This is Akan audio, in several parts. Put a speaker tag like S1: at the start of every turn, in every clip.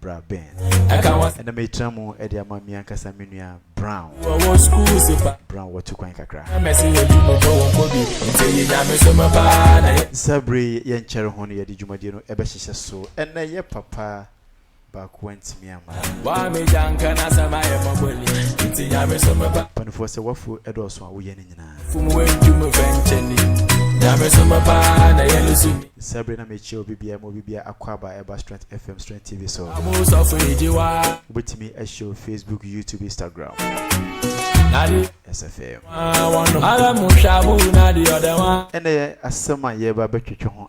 S1: bra bɛn ɛna
S2: metra mu de
S1: ama mi ankasa me nua brown brown wɔto kwan kakra saa bere yɛnkyɛre ho no yɛde dwumadie no ɛbɛhyehyɛ so ɛnɛ yɛ papa baako antumi ama
S2: panifoɔ sɛ wafo ɛdɔɔso
S1: a woyɛ no
S2: nyinaa.
S1: Saa bere na mekyia obi biara mu obi biara akwaaba ɛba Strength FM Strength TV so. Wobɛtumi ahyɛ wo Facebook, YouTube, Instagram. SFM. Ɛnna yɛ asɛm a yɛreba bɛtwetwe ho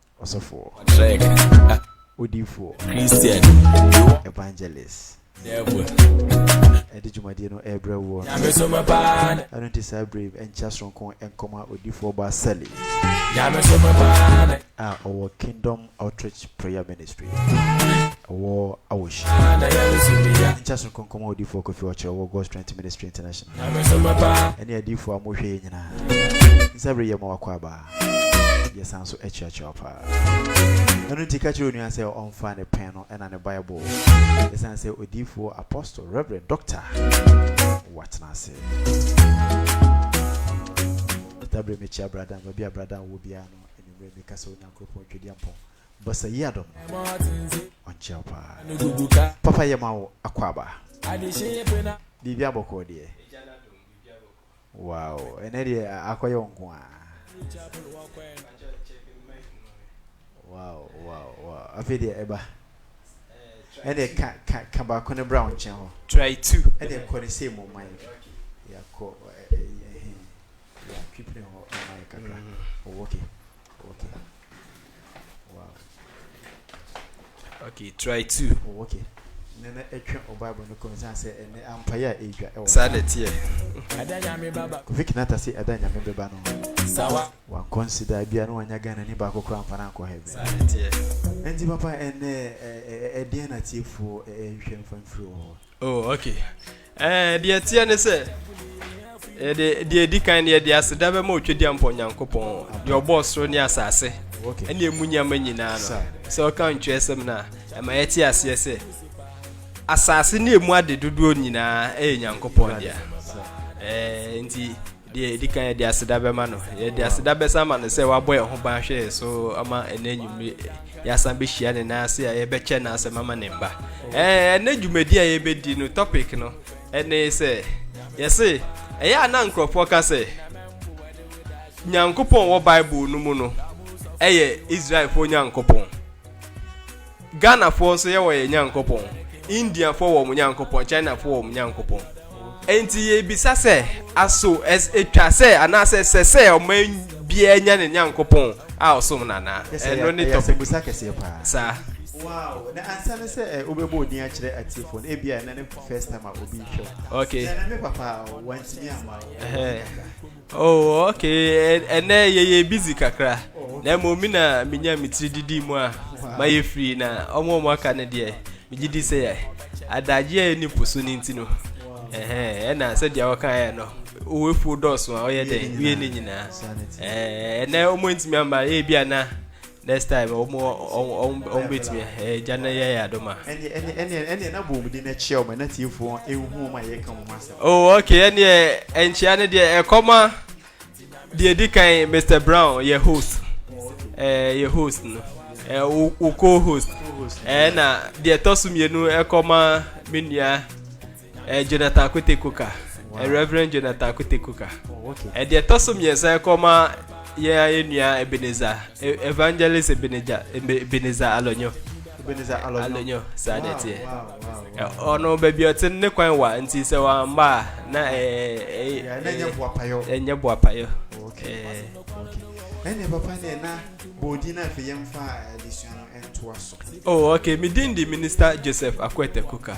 S2: ɔsɔfoɔ odiifoɔ
S1: evangelist
S2: ɛde
S1: dwumadie no ɛrebrɛ woɔ
S2: ɛno nti saa berɛ yi
S1: ɛnkyɛ soronko nkɔma odiifoɔ ba sɛle
S2: a ɔwɔ kingdom
S1: outreach prayer ministry ɛwɔ awohyi nkyɛ soronko nkɔma odiifoɔ kofi ɔkyerɛ wɔ god strength ministry international
S2: ɛne adiifoɔ a mohwɛ
S1: yɛ nyinaa nsɛ berɛ yɛ ma wakɔ abaa Yɛsan nso akyerɛkyerɛ wo paa. Ɛno nti ka kyerɛ onua sɛ ɔmfa ne pɛn no ɛna ne Bible. Ɛsiane sɛ odiifoɔ, apostle, reverend, doctor, watena ase. Dabre mekyia bradan baabi a bradan wɔ biara no anwummerɛ meka sɛ Onyankopɔn twɛdi ampɔn basa yi adom no ɔnkyɛ wo paa papa yɛ ma wo akɔ aba biribi abɔkɔɔ deɛ Wow ɛnɛ deɛ akɔyɛ wo nko a. Wow wow wow afei deɛ ɛba. Ɛnɛ ka ka ka baako ne bra wo nkyɛn hɔ. Try two. Ɛnɛ
S3: kɔ ne sɛ mu
S1: ma yɛ. Yakɔ ɛɛ ɛhɛn. Yatwipire hɔ ma yɛ kakra. Oh okay. Okay. Wow.
S3: Okay, try two. Oh, okay.
S1: Nana ɛtwe o Bible no kɔn san sɛ ɛnɛ ampaeɛ a ɛredwa ɛwɔ. Saa na ɛteɛ.
S2: Kofi Kinata se ɛda nyame
S1: bɛba no. Sawa. Wankɔ
S2: nsidaa
S1: bia no wanya Ghana ni baako koraa mfa no ankɔ heaven. Saa na ɛteɛ.
S3: Ɛnti papa
S1: ɛnɛ ɛdeɛn na tiefoɔ ɛhwɛ mfa mfiri wɔ hɔ. Oh, okay.
S3: Eh, deɛ ɛteɛ ne sɛ yɛde eh, deɛ ɛdi kan no yɛde aseda bɛma ɔtwadi ampɔ nyankopɔn deɛ ɔbɔɔ soro ne asase ɛne ɛmu
S1: nneɛma nyinaa
S3: no sɛ ɔka ntwerɛsɛm no a ɛma yɛte aseɛ sɛ asase ne ɛmu ade dodoɔ nyinaa ɛyɛ nyankopɔn dea eh, nti Deɛ ɛdi kan yɛde aseda bɛma no yɛde aseda bɛsa ama no sɛ wabɔ yɛn ho ban hwɛ yɛn so ama ɛnɛ anwummere yɛasan bɛhyia ne nan ase a yɛbɛkyɛ no asɛm ama ne mba ɛnɛ dwumadi a yɛbɛdi no topic no ɛne sɛ yɛse ɛyɛ a na nkurɔfoɔ ka sɛ nyankopɔn wɔ bible no mu no ɛyɛ israelfoɔ nyankopɔn Ghanafoɔ nso yɛwɔ yɛn Nyankopɔn, Indiafoɔ wɔ wɔn Nyankopɔn, Chinafoɔ wɔ wɔn Nyankopɔn. Enti yɛbisa sɛ, aso ɛtwa sɛ anaasɛ ɛsɛ sɛ ɔman biara nya ne Nyankopɔn a ɔsom no anaa? Ɛno ne topic. Saa. Wow,
S1: na ansa ne sɛ eh, wobɛbɔ odin akyerɛ atiefo no, ebia ɛnɛ ne first time a obi hwɛ wo. Okay. Sɛ ɛnɛ me papa a, wantumi amma wo.
S3: Oh ok, ɛnɛ yɛyɛ busy kakra na mmom me na menya me tiri didi mu a mayɛ firi na ɔmo ɔmo aka no deɛ megye di sɛ adagye a ɛni po so no nti no ɛna sɛdeɛ wɔkaeɛ no owefuo dɔɔso a ɔyɛ dɛn wie ne nyinaa ɛnɛ ɔmo ntumi ama ɛbi ana Next time wɔn wɔn wɔn wɔn betumi ɛɛ gya na yɛ yɛ adom a. ɛne ɛne ɛne ɛne na
S1: bɔ wɔn din na kyia wɔn na tiefo wɔn ehu wɔn a yɛka wɔn asɛm. Oh okay ɛne
S3: ɛnkyia ne deɛ ɛkɔma deɛ edi kan Mr Brown yɛ host ɛɛ yɛ host no ɛɛ wo wo co host ɛɛ na deɛ ɛtɔ so mmienu ɛkɔma me nua. Ɛyɛ Jonathan Kwete Coker, Rev. Jonathan Kwete Coker. Oh, okay. Deɛ ɛtɔ
S1: so mmiɛnsa
S3: ɛkɔma yɛn ayɛnua Ebenezer, e- Evangelist Ebenezer, Ebenezer Alonyo. Ebenezer Alonyo.
S1: Alonyo, saa
S3: deɛ teɛ.
S1: Ɔno baabi ɔte
S3: ne kwan wa nti sɛ wamba a na ɛyɛ. Ɛnyɛ
S1: boapayɔ. Ɛnyɛ
S3: boapayɔ. Okay.
S1: Ɛnna papa ne na bɔɔdi na afei yɛn fa adesua no ntoa so. Oh, okay. Me din
S3: di Minister Joseph Akwete Coker.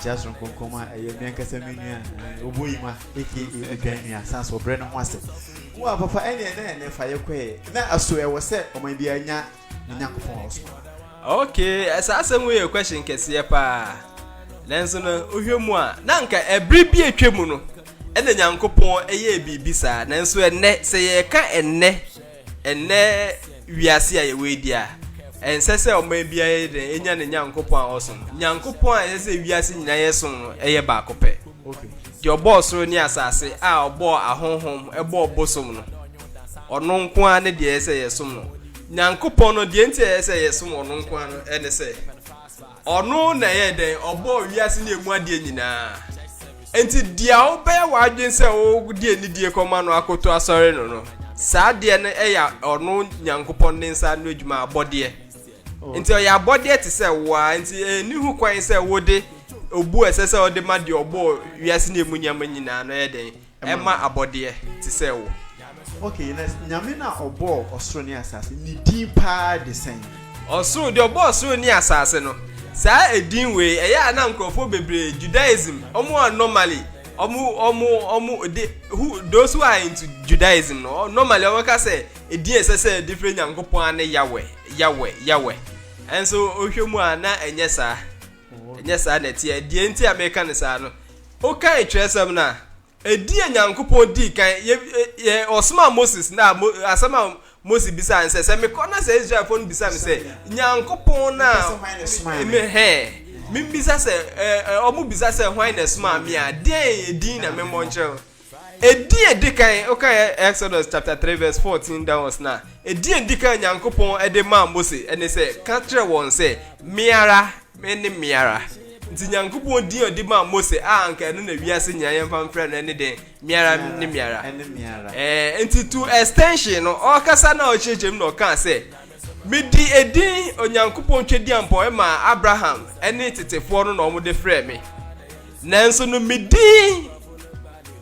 S1: Tia soronko kɔm a ɛyɛ me ankasa me nua eh, obo yima aka odwan nua san so ɔbrɛ ne ho ase wo a papa ɛne ɛnɛ ɛnɛ fa yɛ kɔɛ na aso ɛwɔ sɛ ɔman biara nya ne nyankopɔn a ɔsoma Okay,
S3: eh, saa asɛm wei yɛ question kɛseɛ paa. Nanso no, wohwɛ mu a, na anka ɛbere bi atwa mu no, ɛna Nyankopɔn ɛyɛɛ biribi saa. Nanso ɛnnɛ, sɛ yɛreka ɛnnɛ Ɛnnɛ wiase a yɛwɔ yi deɛ a, ɛnsɛ sɛ ɔman biara yɛ dɛn enya ne Nyankopɔn a ɔsom no. Nyankopɔn a ɛsɛ sɛ wiase nyinaa yɛ som no yɛ baako pɛ. Deɛ
S1: ɔbɔɔ soro
S3: ne asase a ɔbɔɔ ahonhom, ɛbɔɔ bosom no, ɔno nko ara ne deɛ ɛsɛ sɛ yɛsom no. Nyankopɔn no, deɛ nti a ɛsɛ sɛ yɛsom ɔno nko ara no ne sɛ, Ɔno na ɛyɛɛ dɛn? Ɔbɔɔ wiase ne emu adeɛ nyinaa. Enti deɛ wobɛyɛ w'adwene sɛ wode anidie kɔma no akoto asɔre no no, saa adeɛ no yɛ ɔno Nyankopɔn ne nsa ano adwuma, abɔdeɛ. Oh. Nti ɔyɛ abɔdeɛ te sɛ wo ara, nti ɛnni ho kwan sɛ wode obu a ɛsɛ sɛ wode ma deɛ ɔbɔɔ wiase ne emu nneɛma nyinaa no yɛ dɛn? ɛma abɔdeɛ te sɛ wo. Okay, na
S1: Nyame no a ɔbɔɔ ɔsoro ne asase no, ne din paa de sɛn? Ɔsoro, deɛ ɔbɔɔ
S3: ɔsoro ne asase no, saa edin wei, ɛyɛ a na nkorɔfoɔ bebree, Judaism, wɔn a normally, wɔn, wɔn, wɔn, de, who, those who are into Judaism no, normally wɔn ka sɛ, edin a ɛsɛ sɛ yɛde frɛ Nyankopɔn ara ne Yahweh, Yahweh, Yahweh. Ɛnso, wohwɛ mu a, na ɛnyɛ saa. Ɛnyɛ saa na ɛteɛ. Deɛ nti a meka no saa no, wokan twerɛsɛm no a, ɛdi a Nyankopɔn dii kan, yɛ, yɛ, ɔsomaa Moses na mo, asɛm a Moses bisaa no sɛ, sɛ mekɔ na sɛ Israelfoɔ no bisa me sɛ, Nyankopɔn no a me hɛn, membisa sɛ, ɛ, ɛ, wɔbisa sɛ, hwan na ɛsomaa me a, deɛn din na memmɔ nkyerɛ wɔn? Edin a edi kan, wokan Exodus chapter three verse fourteen down ɔs no a, edin a edi kan a Nyankopɔn de maa Mose ne sɛ, Ka kyerɛ wɔn sɛ, Me ara, mene me ara. Nti Nyankopɔn din a ɔde maa Mose a anka ɛno na wiase nyinaa yɛmfa mfrɛ no ne dɛn? Me ara, mene me ara. Ɛɛ, nti to extension no, ɔkasa na ɔkyerɛkyerɛ mu na ɔkaa sɛ, Mede edin Onyankopɔn Twadiampɔ maa Abraham ne tetefoɔ no na wɔde frɛɛ me. Nanso no me din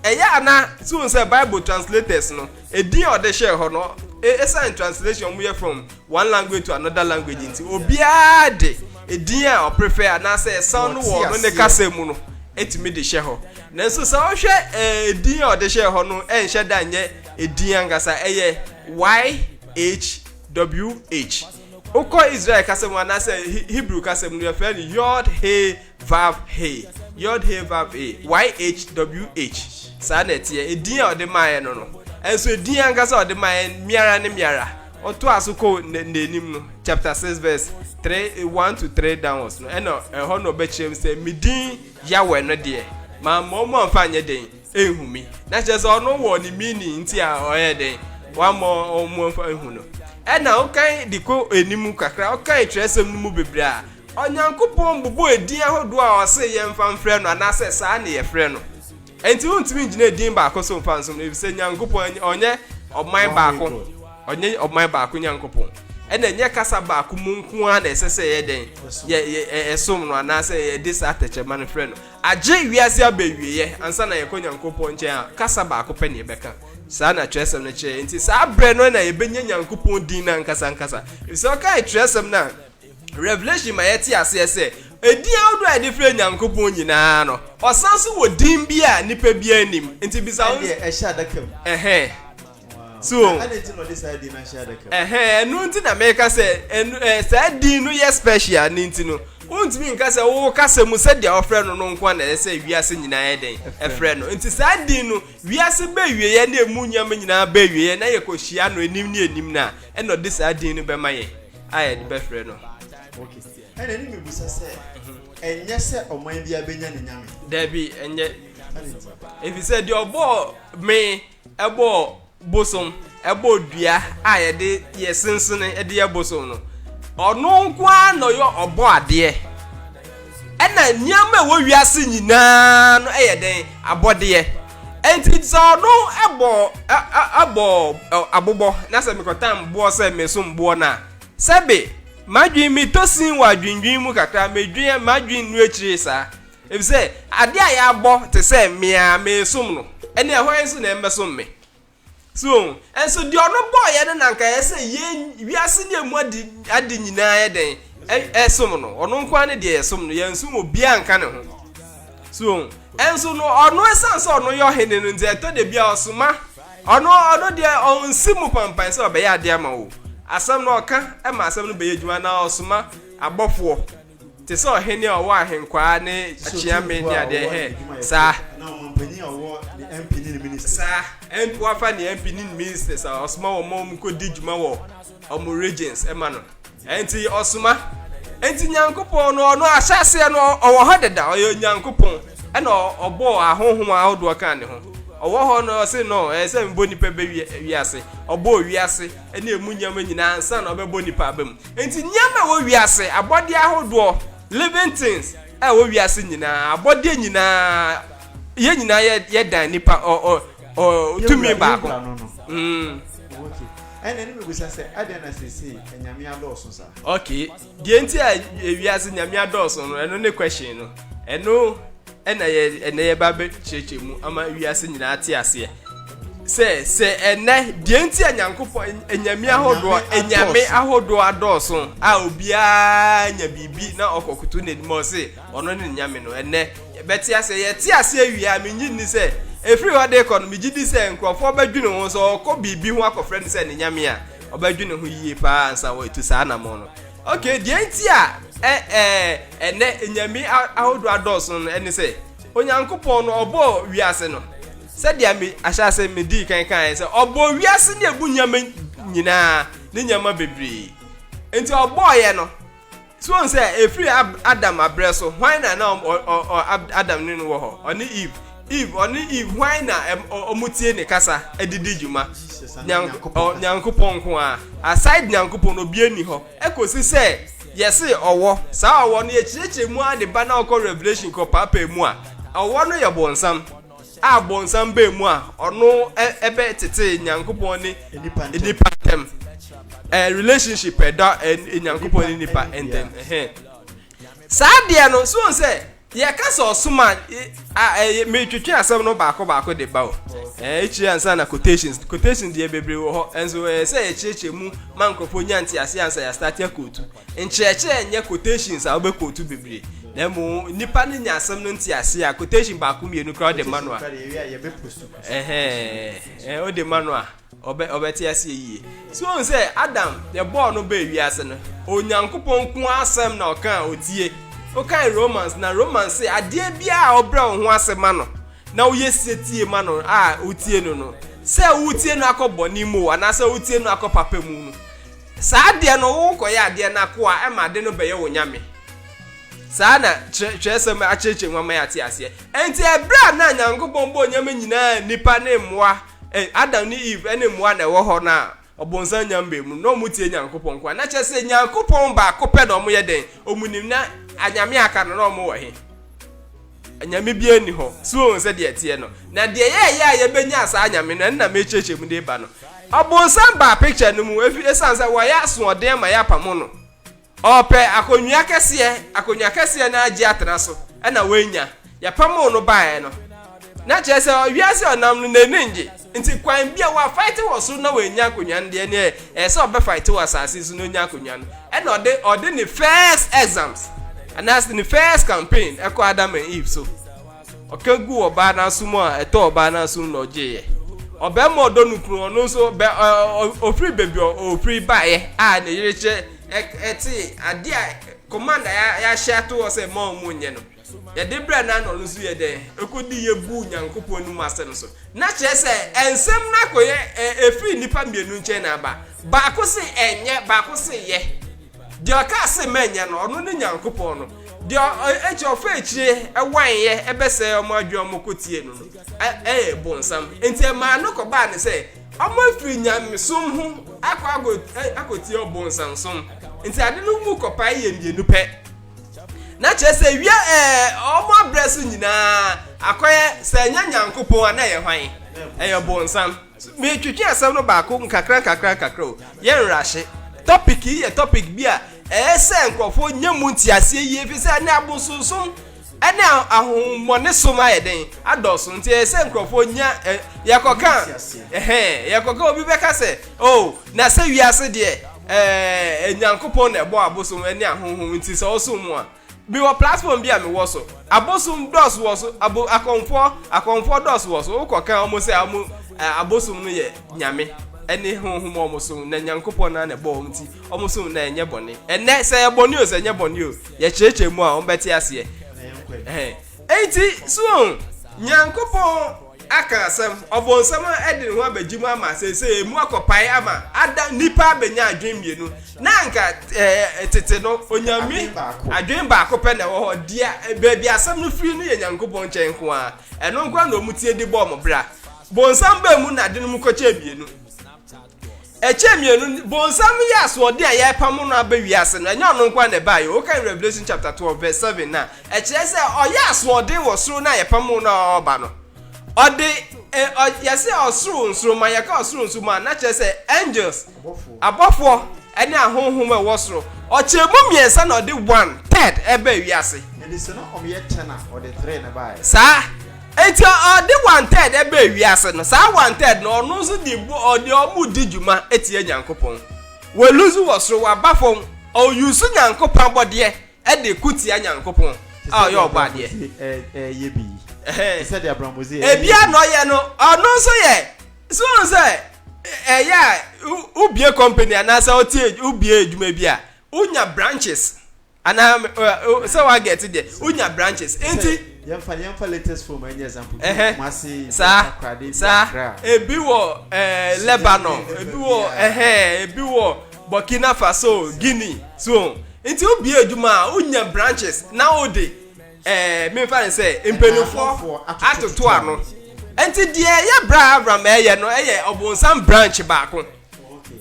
S3: ɛyɛ a na so hu sɛ Bible translators no edin a ɔde hyɛɛ hɔ no ɛsan translation wɔyɛ from one language to another language nti obiara de edin a ɔprefɛ anaasɛ ɛsan no wɔ no ne kasa mu no ɛtumi de hyɛ hɔ nanso sɛ wohwɛ edin a ɔde hyɛɛ hɔ no ɛnhyɛ da nyɛ edin ankasa ɛyɛ y HWH. Wokɔ Israel kasa mu anaasɛ Hebrew kasa mu no, yɛfrɛ no Yod He Vav He. Yod He Vav He. YHWH. Saa na ɛteɛ. Edin a ɔde maaeɛ no no. Ɛnso edin ankasa a ɔde maaeɛ miara ne miara. Ɔtoa so kɔ n'anim no, chapter 6 verse 3, 1 to 3 downwards no, ɛna ɛhɔ na ɔbɛkyerɛ mu sɛ, me din Yahweh no deɛ, mamma wɔn amfa anyɛ dɛn? Ehu me na kyerɛ sɛ ɔno wɔ ne meaning nti a ɔyɛ dɛn wama ɔmo mfa ehu no ɛna ɔkan de kɔ anim kakra ɔkan kyerɛsɛm no mu bebree a Onyankopɔn bobɔ edin ahodoɔ a ɔse yɛmfa mfrɛ no anaasɛ saa ne yɛfrɛ no ɛnti wontumi ngyina edin baako so mfa nsom no efisɛ Nyankopɔn ɔnyɛ ɔman baako ɔnyɛ ɔman baako Nyankopɔn ɛna ɛnyɛ kasa baako mu nko ara na ɛsɛ sɛ yɛ dɛn yɛ ɛsom no anaasɛ yɛde saa tɛkyɛma no frɛ no Agye wiase abɛwieɛ ansa na yɛkɔ Nyankopɔn nkyɛn a, kasa baako pɛ na yɛbɛka. Saa na twerɛsɛm no kyerɛ. Enti saa berɛ no na yɛbɛnya Nyankopɔn din no ankasa ankasa. Ɛfiri sɛ wokae twerɛsɛm no a, Revelation ma yɛte aseɛ sɛ, edin ahodoɔ a yɛde frɛ Nyankopɔn nyina ara no, Ɔsan nso wɔ din bi a nnipa biara nnim. Enti bisa wo. Ɛdeɛ ɛhyɛ adaka mu.
S1: Ɛhɛn.
S3: So, na adɛn nti na ɔde
S1: saa din no ahyɛ adaka mu? Ɛhɛ, ɛno nti na meka
S3: sɛ, ɛno, ɛ, saa din no yɛ special ne nti no, wontumi nka sɛ wo kasa mu sɛdeɛ wɔfrɛ no no nko na ɛyɛ sɛ wiase nyinaa yɛ dɛn ɛfrɛ no. Nti saa din no, wiase bɛwieɛ ne ɛmu nneɛma nyinaa bɛwieɛ na yɛkɔhyia no anim ne anim no a, ɛna ɔde saa din no bɛma yɛn a yɛde bɛfrɛ no. Okay. Ɛna
S1: ɛne mebusa sɛ, ɛnyɛ sɛ ɔman biara bɛnya ne nyame? Dabi, ɛnyɛ.
S3: Ɛfiri sɛ deɛ ɔbɔɔ me Ɛbɔɔ bosom, ɛbɔɔ dua a yɛde yɛ sensene de yɛ bosom no. Ɔno nko ara na ɔyɛ ɔbɔ adeɛ. Ɛna nneɛma ɛwɔ wiase nyinaa no ɛyɛ dɛn abɔdeɛ. Ɛnti sɛ ɔno ɛbɔ ɛbɔ abobɔ na sɛ mekɔtam boɔ sɛ mesom boɔ no a, sɛbe madwene metɔ sin wɔ adwendwen mu kakra, medwen madwene no akyire saa. Efisɛ ade a yɛabɔ te sɛ me a meresom no, ɛnneɛ hwan nso na ɛmmɛsom me? So ohu? Nso deɛ ɔno bɔɔ yɛn no na anka ɛyɛ sɛ yɛn, wiase ne ɛmu ade, ade nyinaa yɛ dɛn? Ɛ, ɛsom no. Ɔno nko ara ne deɛ yɛsom no, yɛnsom obiara nka ne ho. So ohu? Nso no, ɔno, ɛsiane sɛ ɔno yɛ ɔhene no nti, ɛtɔ da bi a ɔsoma, ɔno, ɔno deɛ ɔnsi mu pampan sɛ ɔbɛyɛ adeɛ ama wo. Asɛm no ɔka ma asɛm no bɛyɛ adwuma, anaa ɔsoma abɔfoɔ. Te sɛ ɔhene a ɔwɔ ahenkwaa ne akyeame ne adeɛ hɛ saa. Na ɔman panyin a
S1: ɔwɔ ne MP ne ne ministers. Saa MP
S3: wafa ne MP ne ne ministers a ɔsoma wɔn ma wɔn kɔ di dwuma wɔ wɔn regions ɛma no. Ɛnti ɔsoma. Ɛnti Nyankopɔn no ɔno ahyɛseɛ no ɔwɔ hɔ deda ɔyɛ Nyankopɔn ɛna ɔbɔ ahohom ahodoɔ kan ne ho. Ɔwɔ hɔ no ɔse no ɛyɛ sɛ mbɔ nipa bɛ wiase. Ɔbɔ wiase ɛne ɛmu nneɛma nyinaa ansa na ɔbɛbɔ nipa aba mu. Enti nneɛma a ɛwɔ wiase, abɔdeɛ ahodoɔ, living things, a ɛwɔ wiase nyinaa, abɔdeɛ nyinaa, yɛn nyinaa yɛ yɛ dan nipa ɔ ɔ ɔ tumi baako. Mm. ɛna
S1: ne mebisa sɛ adɛn na sese nyame adɔɔso saa okay deɛ
S3: nti a wiase nyame adɔɔso no ɛno ne question no ɛno Ɛna yɛ ɛnɛ yɛba abɛkyerɛkyerɛ mu ama wiase nyinaa ate aseɛ sɛ sɛ ɛnɛ deɛ nti a nyankopɔn anyame ahodoɔ anyame ahodoɔ adɔɔso a obiara nya biribi na ɔkɔkoto n'anim ɔse ɔno ne nyame no ɛnɛ yɛbɛte aseɛ yɛte aseɛ wie a mengye nni sɛ ɛfiri hɔ de kɔ no megye di sɛ nkurɔfoɔ bɛdwene ho sɛ ɔkɔ biribi ho akɔfrɛ no sɛ ne nyame a ɔbɛdwene ho yie paa ansa wɔatu saa namɔ no Ok, deɛ nti a ɛ ɛ ɛnɛ nyame ahodoɔ adɔɔso no ɛne sɛ Onyankopɔn no ɔbɔɔ wiase no sɛdeɛ me ahyɛase me dii kan kan sɛ ɔbɔɔ wiase ne ɛbu nyama nyinaa ne nyama bebree nti ɔbɔɔyɛ no so wɔn sɛ efiri Adam abrɛ so hwan na na Adam ne no wɔ hɔ ɔne Eve Eve, ɔne Eve, hwan na wɔtie ne kasa de di dwuma? Nyankopɔn nko ara. Aside Nyankopɔn no, obiara nni hɔ. Ɛkɔsi sɛ yɛse ɔwɔ, saa ɔwɔ no yɛkyerɛkyerɛ mu ara de ba na ɔkɔ Revelation kɔpaapae mu a, ɔwɔ no yɛ bonsam, a bonsam baa mu a, ɔno bɛtetee Nyankopɔn ne nnipa ntam relationship a ɛda Nyankopɔn ne nnipa ntam. Saa adeɛ no, so wohu sɛ Yɛka sɛ ɔsom a, meretwetwe asɛm no baako baako de ba o. Akyire ansa na quotations quotations deɛ bebree wɔ hɔ nso ɛyɛ sɛ yɛkyerɛkyerɛ mu ma nkurɔfoɔ nya nte ase ansa yɛastate akootu. Nkyerɛkyerɛ nyɛ quotations a wobɛkootu bebree na mmom nnipa no nya asɛm no nte ase a quotation baako mmienu koraa wode ma no a wode ma no a Ɔbɛ, ɔbɛte aseɛ yie. So woahu sɛ Adam, yɛbɔɔ no baa wiase no, Onyankopɔn nko ara asɛm na ɔka a ɔtie. Wokae Romans no a, Romans se, Adeɛ biara a wobrɛ wo ho ase ma no, na woyɛ setie ma no a wotie no no, sɛ woretie no akɔ bɔne mu o, anaasɛ woretie no akɔ papa mu no, saa adeɛ no worekɔyɛ adeɛ no akoa ma ade no bɛyɛ wo nyame. Saa na twerɛ, twerɛsɛm akyerɛkyerɛ mu ama yɛate aseɛ. Ɛnti ɛberɛ a na Nyankopɔn bɔɔ nneɛma nyinaa, nnipa ne mmoa, Ei, Adam ne Eve ɛne mmoa na ɛwɔ hɔ no a, ɔbonsam nya mbae mu no, na wɔtie Nyankopɔn nko a. Na kyerɛ sɛ Nyankopɔn baako pɛ na wɔyɛ dɛn? Wɔnim. Na anyame a aka no, na wɔwɔ he? Anyame biara nni hɔ. So woahu sɛdeɛ ɛteɛ no? Na deɛ yɛɛyɛ a yɛbɛnyaa saa anyame no, ɛno na merekyerɛkyerɛ mu de reba no. Ɔbonsam baa picture no mu, efi, esiane sɛ wɔayɛ asoɔden ama yɛapamo no. Ɔɔpɛ akonnwa kɛseɛ, akonnwa kɛseɛ no ara gye atena so na w'anya. Yɛpamoo no baeɛ no, na kyerɛ sɛ wiase a ɔnam no n'ani ngye, nti kwan bi a w'afaete wɔ soro na w'anya akonnwa no deɛ neɛ ɛyɛ sɛ ɔbɛfaete wɔ asase so na ɔnya akonnwa no. Ɛna ɔde ɔde ne first exams anaasɛ ne first campaign ɛkɔ Adam and Eve so. Ɔka guu ɔbaa no aso mu a, ɛtɔɔ ɔbaa no asom na ɔgyeeɛ. Ɔbarima a ɔdɔ ne kunu, ɔno nso, bɛ, ɔ, ɔ, ɔfiri baabi a ɔfiri baeɛ a ne yere kyɛ, ɛ, ɛtee adeɛ a command a yɛ, yɛahyɛ ato hɔ sɛ mma wɔn nyɛ no, yɛde brɛɛ no a na ɔno nso yɛ dɛn? Ɔkɔdii yɛ guu Onyankopɔn anim asɛm so. Na kyerɛ sɛ, nsɛm no akɔyɛ, ɛ, ɛfiri nnipa mmienu nkyɛn na aba. Baako se ɛnyɛ, baako se yɛ. Deɛ ɔkaa se mɛnyɛ no, ɔno ne Nyankopɔn no, deɛ ɔkyɛ ɔfa akyire ɛwanyeɛ ɛbɛsɛɛ ɔmo adwene ɔmo kɔtie no no, ɛyɛ bonsam. Enti ɛmaa no kɔbaa ne sɛ, ɔmo afiri nyamesom ho akɔ akɔtie ɔbonsansom. Enti ade no mu kɔpae yɛ mmienu pɛ. Na kyerɛ sɛ wia ɛɛ ɔmo abrɛ so nyinaa akɔyɛ sɛ ɛnyɛ Nyankopɔn a na ɛyɛ hwan? Ɛyɛ bonsam. Meretwetwe asɛm no baako nkakrankakra o, yɛnwerɛ ahye. Topic yi yɛ topic bi a ɛyɛ sɛ nkurɔfoɔ nya mu nteaseɛ yie ɛfiri sɛ ɛnnɛ abosonsom ne ahonhommɔne som ayɛ dɛn adɔɔso nti ɛyɛ sɛ nkurɔfoɔ nya ɛ yɛkɔka ɛhɛn yɛkɔka obi bɛka sɛ oh na sɛ wiase deɛ ɛɛ Nyankopɔn na ɛbɔ abosom ne ahonhom nti sɛ ɔsom mu a Mewɔ platform bi a mewɔ so abosom dɔɔso wɔ so abo akɔmfoɔ akɔmfoɔ dɔɔso wɔ so wokɔ kan wɔn sɛ wɔn eh, abosom no yɛ nyame ɛne honhom a wɔn som na nyankopɔn na na ɛbɔ wɔn ti wɔn som na ɛnyɛ bɔne ɛnɛ sɛ yɛ bɔne o sɛ ɛnyɛ bɔne o yɛkyerɛkyerɛ mu a wɔn bɛte aseɛ ɛhɛn ɛnti so nyankopɔn Aka asɛm, Ɔbonsam de ne ho abegye mu ama seesei emu akɔpae ama ada nnipa abenya adwene mmienu na anka tete no onyame adwene baako pɛ na ɛwɔ hɔ, deɛ baabi asɛm no firi no yɛ Nyankopɔn nkyɛn nko ara, ɛno nko ara na wɔn tie de bɔ wɔn bra. Bonsam baa mu na ade no mu kɔkyɛɛ mmienu. ɛkyɛ mmienu bonsam yɛ asoɔden a yɛrepam no aba wiase no ɛnyɛ ɔno nkoa na ɛbaeɛ o wokan revelation chapter 12 verse 7 no a ɛkyerɛ sɛ ɔyɛ asoɔden wɔ soro no a yɛpam no a ɔreba no ɔde eh, ɔ- yɛse ɔsoro nsoroma yɛka ɔsoro nsoroma a na kyerɛ sɛ angels abɔfoɔ ɛne ahonhom a ɛwɔ soro ɔkyɛ mu mmiɛnsa na ɔde one third ɛba wiase yɛde sɛ na ɔmyɛ
S1: 10 a ɔde 3 na baɛ saa
S3: Enti ɔde wanted baa wiase no, saa wanted no ɔno nso de bɔ ɔde ɔmo di dwuma tia Nyankopɔn. Wɔ lose wɔ soro, waba fɔm, ɔ use Nyankopɔn abɔdeɛ de ko tia Nyankopɔn a ɔyɛ ɔbɔ adeɛ. Te sɛ deɛ abramotse yɛ bi
S1: yi. Te sɛ deɛ abramotse yɛ bi yi. Ebia na ɔyɛ no,
S3: ɔno nso yɛ, so wohu sɛ ɛyɛ a wo bue company anaasɛ wo tie, wo bue adwuma bi a, wo nya branches. Anaa me ɔ ɔ sɛ wa get deɛ o nya branches nti. Sɛ yɛn fa yɛn fa latest
S1: film ɛnyɛ example bi wɔ Kumasi bi wɔ Takoradi bi wɔ Accra.
S3: Saa saa ebi wɔ ɛɛ Lebanon ebi wɔ ɛhɛn ebi wɔ Burkina Faso Guinea so nti o bie adwuma a o nya branches na o de ɛɛ mi nfa ne sɛ mpanyinfoɔ atoto ano nti deɛ ɛyɛ bra Avram ɛyɛ no ɛyɛ ɔbɔnsam branch baako.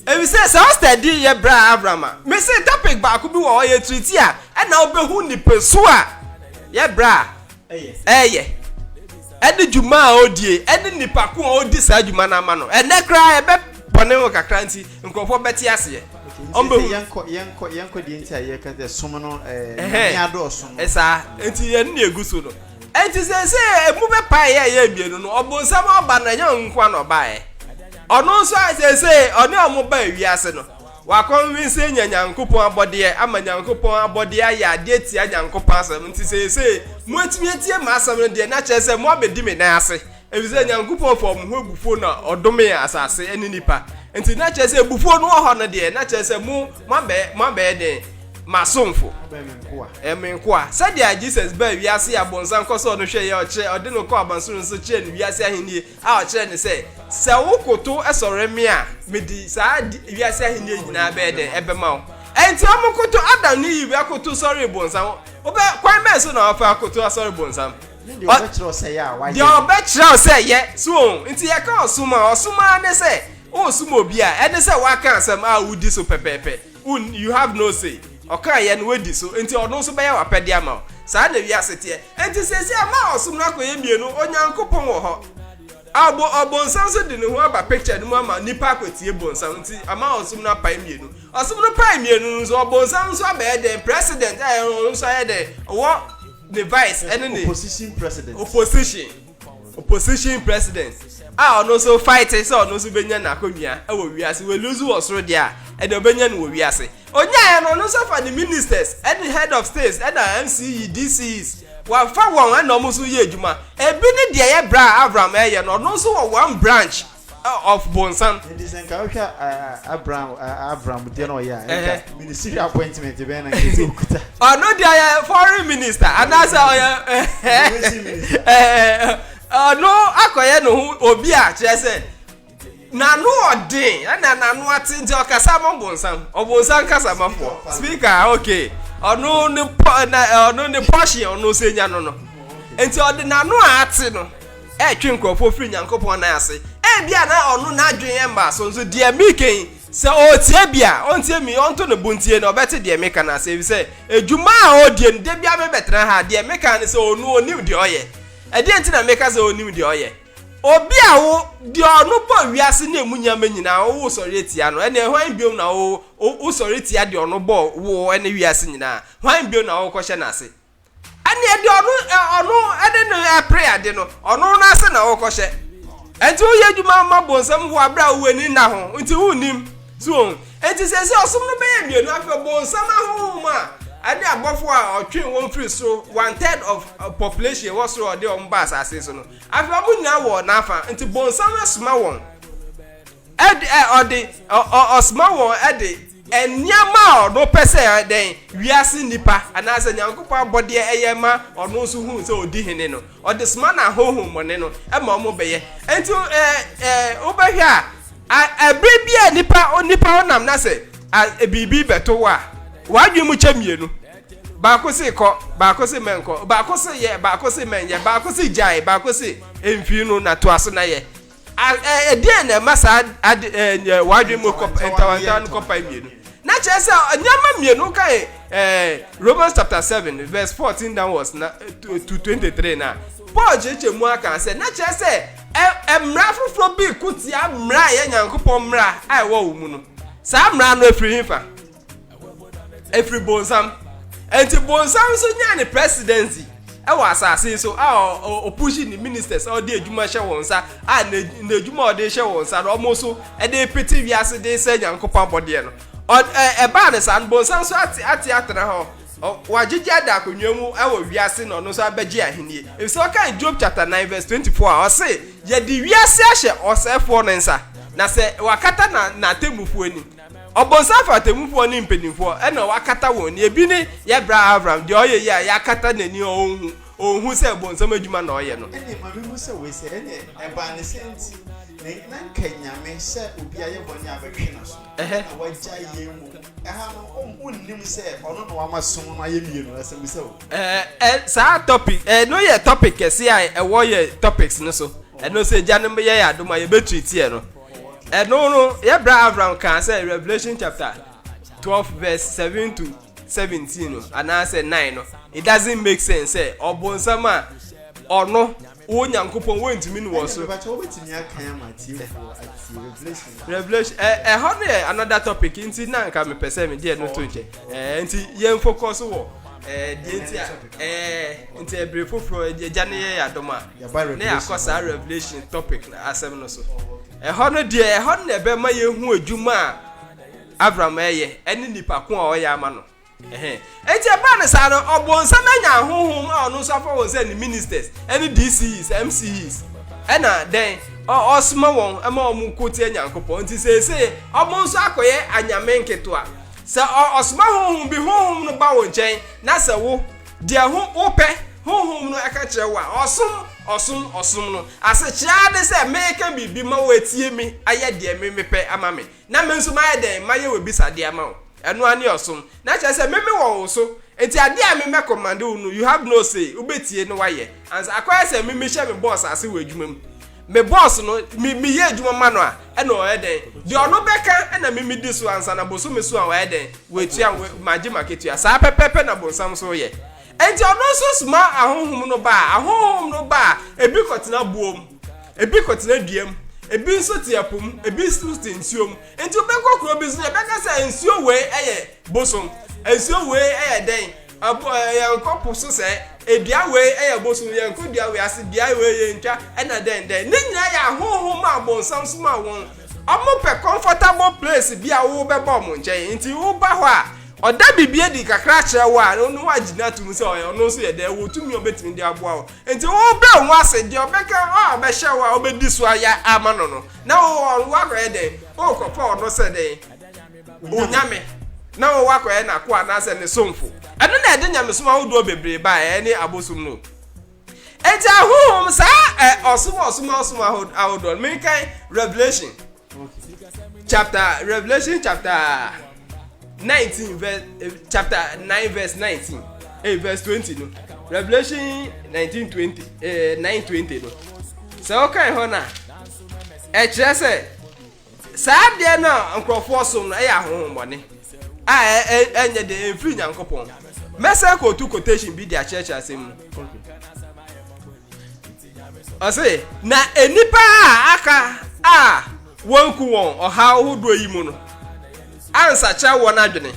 S3: Efisɛ saa study yi yɛ bra abra ma me se topic baako bi wɔ hɔ yɛ treat a ɛna wobɛhu nipasu a yɛ bra a ɛyɛ ɛne dwuma a odie ɛne nipa ko a odi saa dwuma no ama no ɛnɛ koraa ɛbɛ bɔne ho kakra nti nkurɔfoɔ bɛte aseɛ
S1: yɛnkɔ deɛ nti a yɛka sɛ som no ɛɛ adɔɔso no saa nti yɛn
S3: ne egu so no nti sɛ sɛ emu bɛ pa yɛ yɛ mmienu no ɔbɔnsam aba na ɛnyɛ nkoa na ɔbaeɛ Ɔno nso a seesei ɔne wɔn baa wiase no, wakɔnvinse anya Nyankopɔn abɔdeɛ ama Nyankopɔn abɔdeɛ ayɛ adeɛ tia Nyankopɔn asɛm, nti seesei moatumi atie m'asɛm no deɛ, na kyerɛ sɛ moabɛdi me nan ase, ɛfiri sɛ Nyankopɔn faa wɔn ho abufuo na ɔdomee asase ne nnipa, nti na kyerɛ sɛ abufuo no wɔ hɔ no deɛ, na kyerɛ sɛ mo, moabɛyɛ, moabɛyɛ dɛn? M'asomfo. Moabɛyɛ me nkoa. Ɛyɛ me nkoa. Sɛdeɛ Jesus baa wiase a bonsam kɔsɔɔ no hwɛeɛ, ɔkyerɛ, ɔde no kɔɔ abansoro no so kyerɛɛ no wiase ahennie, A ɔkyerɛɛ no sɛ, Sɛ wokotow sɔre me a, mede saa wiase ahenni nyinaa bɛyɛ dɛn? Ɛbɛma wo. Enti wɔkotow Adam ne Eve akotow sɔree bonsam. Wobɛ, kwan bɛn so na wɔfa akotow asɔre bonsam? Ne deɛ ɔbɛkyerɛ wo
S1: sɛ yɛ a,
S3: wayɛ. Deɛ
S1: ɔbɛkyerɛ
S3: wo sɛ yɛ.
S1: So
S3: wɔn? Nti yɛka
S1: ɔsom
S3: a, ɔsom ara ne
S1: sɛ
S3: woresom obi a, ɛne sɛ woaka asɛm a wodi so pɛpɛɛpɛ. Woun, you have no say. Ɔkaeɛ no, woadi so, enti Ɔno nso bɛyɛ w'apɛdeɛ ama wo. Saa na wiase teɛ. Enti seesei ama ɔsom no akɔyɛ mmienu, Onyankopɔn wɔ hɔ, ɔbo, ɔbonsam nso de ne ho aba picture no mu ama nnipa akɔtie bonsam, nti ama ɔsom no apae mmienu. Ɔsom no pae mmienu no nso, ɔbonsam nso abɛyɛ dɛn? President, ɛɛ, ɔno nso ayɛ dɛn? Ɔwɔ ne vice ne ne. Opposition president. Opposition. opposition president a ɔno nso fight sɛ ɔno nso bɛnya n'akonnwa wɔ wiase wɔluzu wɔ soro deɛ a ɛde ɔbɛnya no wɔ wiase ɔnyaeɛ no ɔno nso fa ne ministers ɛne head of states ɛna mce dcs wɔafa wɔn ɛna ɔmo nso yɛ adwuma ebi ne deɛ yɛ bra a avram ɛyɛ no ɔno nso wɔ one branch of bonsam. Nti sɛ nka wohwɛ
S1: Abraham Abraham deɛ na ɔyɛ a nka ministry appointment bɛn na nkesi okuta. Ɔno deɛ ɔyɛ
S3: foreign minister anaasɛ ɔyɛ ɔno akɔyɛ ne ho obi a kyerɛ sɛ n'ano ɔden ɛna n'ano ate nti ɔkasa ma bonsam ɔbonsam kasa ma fo speaker okay ɔno ne pɔ na ɔno ne pɔhye ɔno sɛ nya no no nti ɔde n'ano a ate no. ɛretwe nkurɔfoɔ firi Nyankopɔn nan ase, ebia na ɔno n'adwene mmaa so nso deɛ mereka yi, sɛ ɔretie bi a, ɔntie me, ɔnto ne bo ntie na ɔbɛte deɛ meka no ase, efisɛ adwuma a ɔredie no, da biara mebɛtena ha a, deɛ meka ne sɛ ɔno ɔnim deɛ ɔyɛ. Ɛdeɛn nti na meka sɛ ɔnim deɛ ɔyɛ? Obi a wo, deɛ ɔno bɔɔ wiase ne emu nneɛma nyinaa, wo wosɔre tia no, ɛnneɛ hwan bio na wo, wo, wosɔre tia deɛ ɔno bɔɔ wo ne wiase nyinaa? Hwan bio na worekɔhyɛ n'ase? ɛneɛ deɛ ɔno ɔno ɛne no ɛpere ade no ɔno no ase na ɔkɔhyɛ ɛnti woyɛ adwuma ma bonsam ho aberɛ a wow'ani nna ho nti wonnim so wɔn ɛnti sɛ sɛ ɔsom no bɛyɛ mmienu afei bonsam ahohom a ɛne abɔfo a ɔtwe wɔn firi soro one third of uh, population wɔ soro ɔde wɔn ba asase so no afei wɔn nyinaa wɔ n'afa nti bonsam asoma wɔn ɛde ɔde ɔsoma wɔn ɛde Nneɛma a ɔno pɛ sɛ dɛn, wiase nnipa anaasɛ Nyankopɔn abɔdeɛ yɛ ma ɔno nso hu sɛ ɔdi hene no, ɔde soma no ahonhommɔne no ma wɔbɛyɛ. Enti wobɛhwɛ a, berɛ bi a nipa onipa wo nam na sɛ biribi bɛto wo a, w'adwene mu kyɛ mmienu. Baako se kɔ, baako se mɛnkɔ, baako se yɛ, baako se mɛnyɛ, baako se gyae, baako se mfiri no na toa so na yɛ. Ɛdeɛn na ɛma saa ade ɛɛ wadwin mu kɔ ntawantawa no kɔpae mmienu? Na kyerɛ sɛ nneɛma mmienu kan ɛɛ Romans chapter seven verse fourteen downwards na to twenty three na Paul kyerɛkyerɛ mu aka sɛ na kyerɛ sɛ ɛ mmara foforɔ bi ko tia mmara a ɛyɛ Nyankopɔn mmara a ɛwɔ wɔn mu no. Saa mmara no efiri hefa? ɛfiri bonsam ɛnti bonsam nso nyaa ne presidency ɛwɔ asase so a ɔpushi ne ministers a ɔde adwuma hyɛ wɔn nsa a n'adwuma a ɔde hyɛ wɔn nsa na wɔn nso ɛde pete wiase de sɛ nyankopɔn abɔdeɛ no ɛbaa ne saa no bonsam nso ate ate atena hɔ wagyegye ada akonnwa mu ɛwɔ wiase na ɔno nso abɛgye ahennie efisɛ ɔka job chapter nine verse twenty four a ɔse yɛde wiase ahyɛ ɔsɛefoɔ no nsa na sɛ wakata na n'atemmufoɔ anim Ɔbonsam fa atemmufoɔ ne mpanimfoɔ na wakata wɔn ani. Ebi ne yɛ bra Avram, deɛ ɔyɛ yie a yɛakata n'ani a ɔnhu, ɔnhu sɛ bonsam adwuma na ɔyɛ no. Ɛnneɛ Maame hu sɛ wei
S1: sɛ ɛnneɛ ɛbaa ne sɛ nti na na nka Nyame sɛ obi ayɛ bɔne a bɛtwe n'aso na wagyae yɛn mmom. Ɛha no wonnim sɛ ɔno na wama som no ayɛ mmienu, asɛmmisa o. Ɛɛ ɛ saa
S3: topic ɛno yɛ topic kɛseɛ a ɛwɔ yɛ topics no so. Ɛno sɛ Agyanom bɛyɛ yɛn adom a yɛbɛtreat yɛ no. Ɛno no, yɛbra Avram kaa sɛ Revelation chapter 12 verse 7 to 17 no anaasɛ 9 no, it doesn't make sense sɛ ɔbonsam a ɔno wo nyankopɔn wontumi ne wɔ so revelation ɛhɔ no yɛ another topic nti na nka mepɛ sɛ me deɛ no to nkyɛ nti yɛn focus wɔ deɛ nti a nti ɛbere foforɔ agya no yɛ yɛ adom a na yɛakɔ saa Revelation topic no asɛm no so. Ɛhɔ no deɛ, ɛhɔ no na ɛbɛma yɛhu adwuma a Avram ɛyɛ ɛne nipa ko a ɔyɛ ama no. Ɛhɛn. Enti ɛbaa no saa no, ɔbonsam anya ahohom a ɔno nso afa wɔn sɛ ne ministers, ɛne DCEs, MCEs. Ɛna dɛn? Ɔsoma wɔn ma wɔn ko tia Nyankopɔn. Nti seesei, wɔn nso akɔyɛ anyame nketewa. Sɛ ɔsoma honhom bi, honhom no ba wo nkyɛn, na sɛ wo. Deɛ ho wopɛ, Honhom no ɛka kyerɛ wo a, ɔsom, ɔsom, ɔsom no. Asekyerɛ ne sɛ meka biribi ma wo atie me, ayɛ deɛ me mepɛ ama me, na me nso mayɛ dɛn, mayɛ w'abisadeɛ ama wo. Ɛno ara ne ɔsom. Na kyerɛ sɛ me mewɔ wo so, nti adeɛ a me mɛkɔmande wo no, you have no say, wobɛtie na woayɛ. Ansa, akɔyɛ sɛ me mehyɛ me boss ase wɔ adwuma mu. Me boss no, me meyɛ adwuma ma no a, ɛna ɔyɛ dɛn? Deɛ ɔno bɛka na me medi so ansa na bosome so a wayɛ dɛn? Watua, magye m'akatua. Saa pɛpɛɛpɛ na bonsam nso yɛ. Enti ɔno nso soma ahonhom no ba a, ahonhom no ba a, ebi kɔtena boɔ mu, ebi kɔtena dua mu, ebi nso te ɛpo mu, ebi nso te nsuo mu. Enti wobɛkɔ kuro bi so na yɛbɛka sɛ nsuo wei yɛ bosom, nsuo wei yɛ dɛn? Ɛbo ɛ yɛnkɔ po so sɛ ɛ dua wei ɛ yɛ bosom yɛnkɔ dua wei ase beaɛ wei yɛntwa ɛ na dɛn dɛn ne nyinaa yɛ ahonhom a bonsam somaa wɔn ɔmo pɛ comfortable place bi a wo bɛba ɔmo nkyɛn nti wo ba hɔ a ɔda biribi adi kakra kyerɛ wo a ɔno wagyina atom sɛ ɔyɛ ɔno nso yɛ dɛn ɔwɔ tumi a ɔbɛtumi de aboa wo nti wo brɛ wo ho ase deɛ ɔbɛka a ɔbɛhyɛ wo a ɔbɛdi so ayɛ ama no no na wo ɔno wakɔyɛ dɛn wokɔpɛ ɔno sɛ dɛn Onyame na wɔwɔ akɔyɛ n'akoa anaasɛ ne somfo. Ɛno na ɛde nyamesom ahodoɔ bebree baeɛ, ɛne abosom no. Enti ahohom saa ɛ ɔsom ɔsom ɔsom ahodoɔ no menkan Revelation chapter Revelation chapter nineteen verse eh, chapter nine verse nineteen eh, verse twenty no Revelation nineteen twenty eh, nine twenty no sɛ ɔkan hɔ na ɛkyerɛ sɛ. Saa adeɛ no a nkorɔfoɔ som no yɛ ahonhommɔne a ɛnyɛ den, ɛmfiri Nyankopɔn. Mɛsan kɔɔtu quotation bi de akyerɛkyerɛ asɛm mu. Ɔse, na nnipa a aka a wɔanku wɔn ɔhaw hodoɔ yi mu no ansakyera wɔn adwene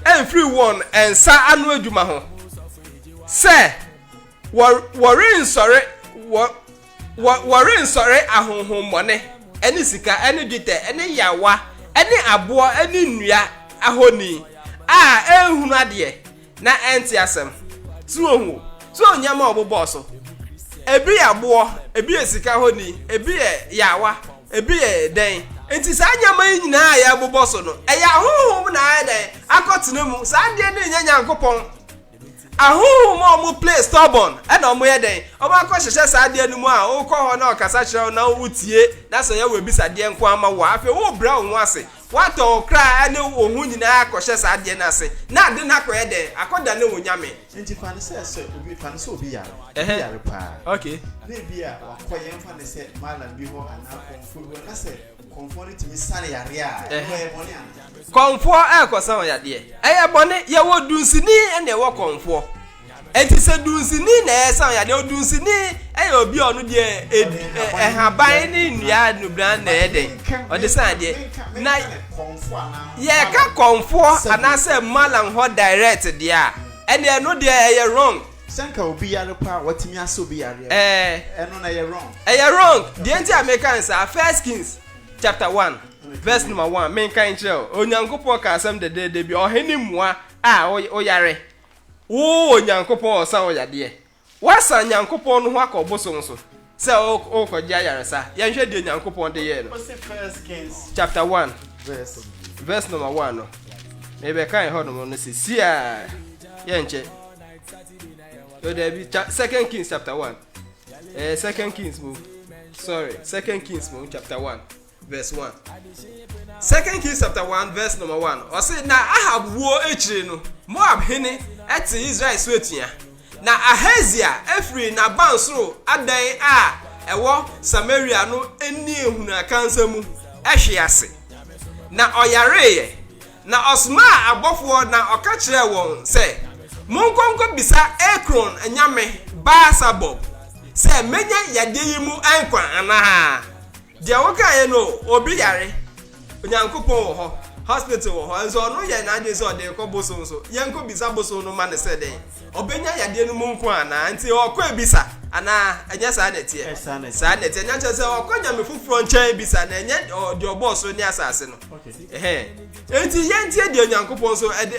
S3: amfiri wɔn nsa ano adwuma ho sɛ wɔrensɔre wɔ Wɔ, wɔrensɔre ahonhommɔne, ne sika, ne dwetɛ, ne yaawa, ne aboɔ, ne nnua ahoni a ɛnhunu adeɛ, na ɛnte asɛm. So wohu? So wohu nneɛma a wɔbobɔɔ so? Ebi yɛ aboɔ, ebi yɛ sika ahoni, ebi yɛ yaawa, ebi yɛ dɛn. Nti saa nneɛma yi nyinaa a yɛbobɔ so no, ɛyɛ ahonhom na ayɛ dɛn? Akɔtena mu. Saa adeɛ no nyɛ Nyankopɔn. Ahonhom a wɔn play stubborn na wɔn yɛ dɛn? Wɔn akɔ hyehyɛ saa adeɛ no mu a wo kɔ hɔ na ɔkasa kyerɛ wo na wo tie na sɛ ɔyɛ wo abisadeɛ nko ara ma wo a afei wo brɛ wo ho ase wo atɔ wo kra ne wo ho nyinaa akɔ hyɛ saa adeɛ no ase na ade no akɔ yɛ dɛn? Akɔ dane wo nyame. Nti fa no sɛ sɛ
S1: obi fa no sɛ obi yare obi yare paa na ebi
S3: a wakɔ
S1: yɛn fa no sɛ malam bi hɔ anaa kɔmfoɔ bi hɔ na sɛ. Kɔmfoɔ no tumi sa yareɛ a, ɛno ɛyɛ bɔne anaa? Kɔmfoɔ ɛrekɔsa
S3: wo yadeɛ, ɛyɛ bɔne. Yɛwɔ dunsini ɛna ɛwɔ kɔmfoɔ. Ɛnti sɛ dunsini na ɛresa wo yadeɛ, odunsini ɛyɛ obi a ɔno deɛ ed, ɛ, ɛhaban ne nnua nubran na ɛyɛ dɛn, ɔde sa yadeɛ. Na
S1: yɛreka kɔmfoɔ
S3: anaasɛ malam hɔ direct deɛ a, ɛneɛ ɛno deɛ ɛyɛ wrong. Sɛ nka obi yare
S1: paa a watumi asa obi yareɛ no, Ɛɛ. ɛno no ɛyɛ wrong? Ɛyɛ wrong. Deɛ nti a
S3: meka no saa, First Kings chapter one verse number one, menkan nkyerɛ wo. Onyankopɔn kaa asɛm dɛdɛɛdɛ bi, ɔhene mmoa a woyare, wo Onyankopɔn ɔsa wo yadeɛ. Woasan Nyankopɔn no ho akɔ ɔbosom so. Sɛ worekɔgye ayaresa. Yɛnhwɛ deɛ Nyankopɔn de yɛɛ no. Ɔsi First Kings
S1: chapter
S3: one verse
S1: verse number one no.
S3: Mebɛka ɛhɔ nom no sɛ siaa yɛnkyɛ. Yo daabi cha Second Kings chapter one. Eh, Second Kings mu. Sorry, Second Kings mu chapter one. Verse one. Second Kings chapter one verse number one. Ɔsi na Ahab wuo akyire no, Moab hene ɛte Israel so atua. Na Ahazia efiri n'abansoro adan a ɛwɔ Samaria no ani ehunu akansa mu ɛhwe ase, na ɔyareeɛ. Na ɔsomaa abɔfoɔ na ɔka kyerɛɛ wɔn sɛ, Monkɔ nkɔbisa Ekron nyame Baal-Sabub sɛ menya yadeɛ yi mu nkwa anaa. Deɛ wo kaeɛ no obi yare Onyankopɔn wɔ hɔ hospital wɔ hɔ nso ɔno yɛ n'adwene sɛ ɔde rekɔ bosom so yɛnkɔ bisa bosom no ma no sɛ dɛn ɔbɛnya yadeɛ no mu nko anaa nti ɔkɔ abisa anaa ɛnyɛ saa na ɛteɛ saa na ɛteɛ nyakyɛ sɛ ɔkɔ nyame foforɔ nkyɛn abisa na ɛnyɛ deɛ ɔbɔɔ soro ne asase no ɛhɛn nti yɛntie deɛ Onyankopɔn so ɛde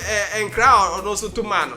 S3: nkra ɔno so to maa no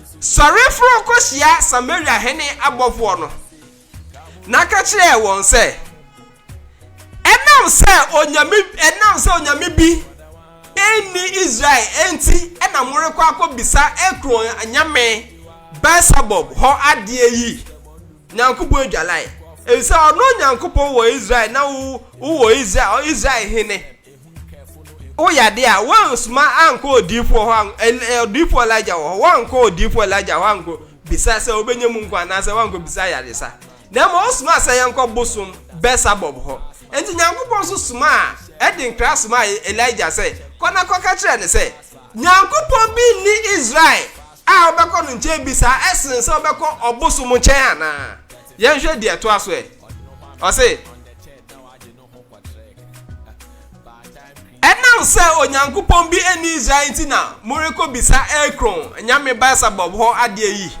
S3: Sɔre foro kɔhyia Samaria hene abɔfoɔ no, na ka kyerɛ wɔn sɛ, 'Ɛnam sɛ onyame, ɛnam sɛ onyame bi nni Israel enti na morekɔ akɔbisa Ekron nyame Beelsebub hɔ adeɛ yi? Nyankopɔn adwalae, efisɛ ɔno Nyankopɔn wɔ Israel na wo, wowɔ Israel, Israel hene. Woyɛ ade a, woansoma ankɔ odiyifoɔ hɔ, odiyifoɔ Elijah wɔ hɔ, woankɔ odiyifoɔ Elijah hɔ ankɔ bisa sɛ wobɛnya mu nkwa anaasɛ woankɔ bisa ayaresa. Na mmom wosomaa sɛ yɛnkɔ bosom Bɛsabɔb hɔ. Enti Nyankopɔn nso somaa, ɛde nkra somaa Elijah sɛ, kɔ na kɔka kyerɛ no sɛ, Nyankopɔn bi nni Israel a wobɛkɔ no nkyɛn bi saa ɛsen sɛ wobɛkɔ ɔbosom nkyɛn anaa? Yɛnhwɛ deɛ ɛtoa so ɛ. Ɔse, Ɛnam sɛ Onyankopɔn bi nni Israel nti na morekɔbisa Ekron nyame Beelsebub hɔ adeɛ yi?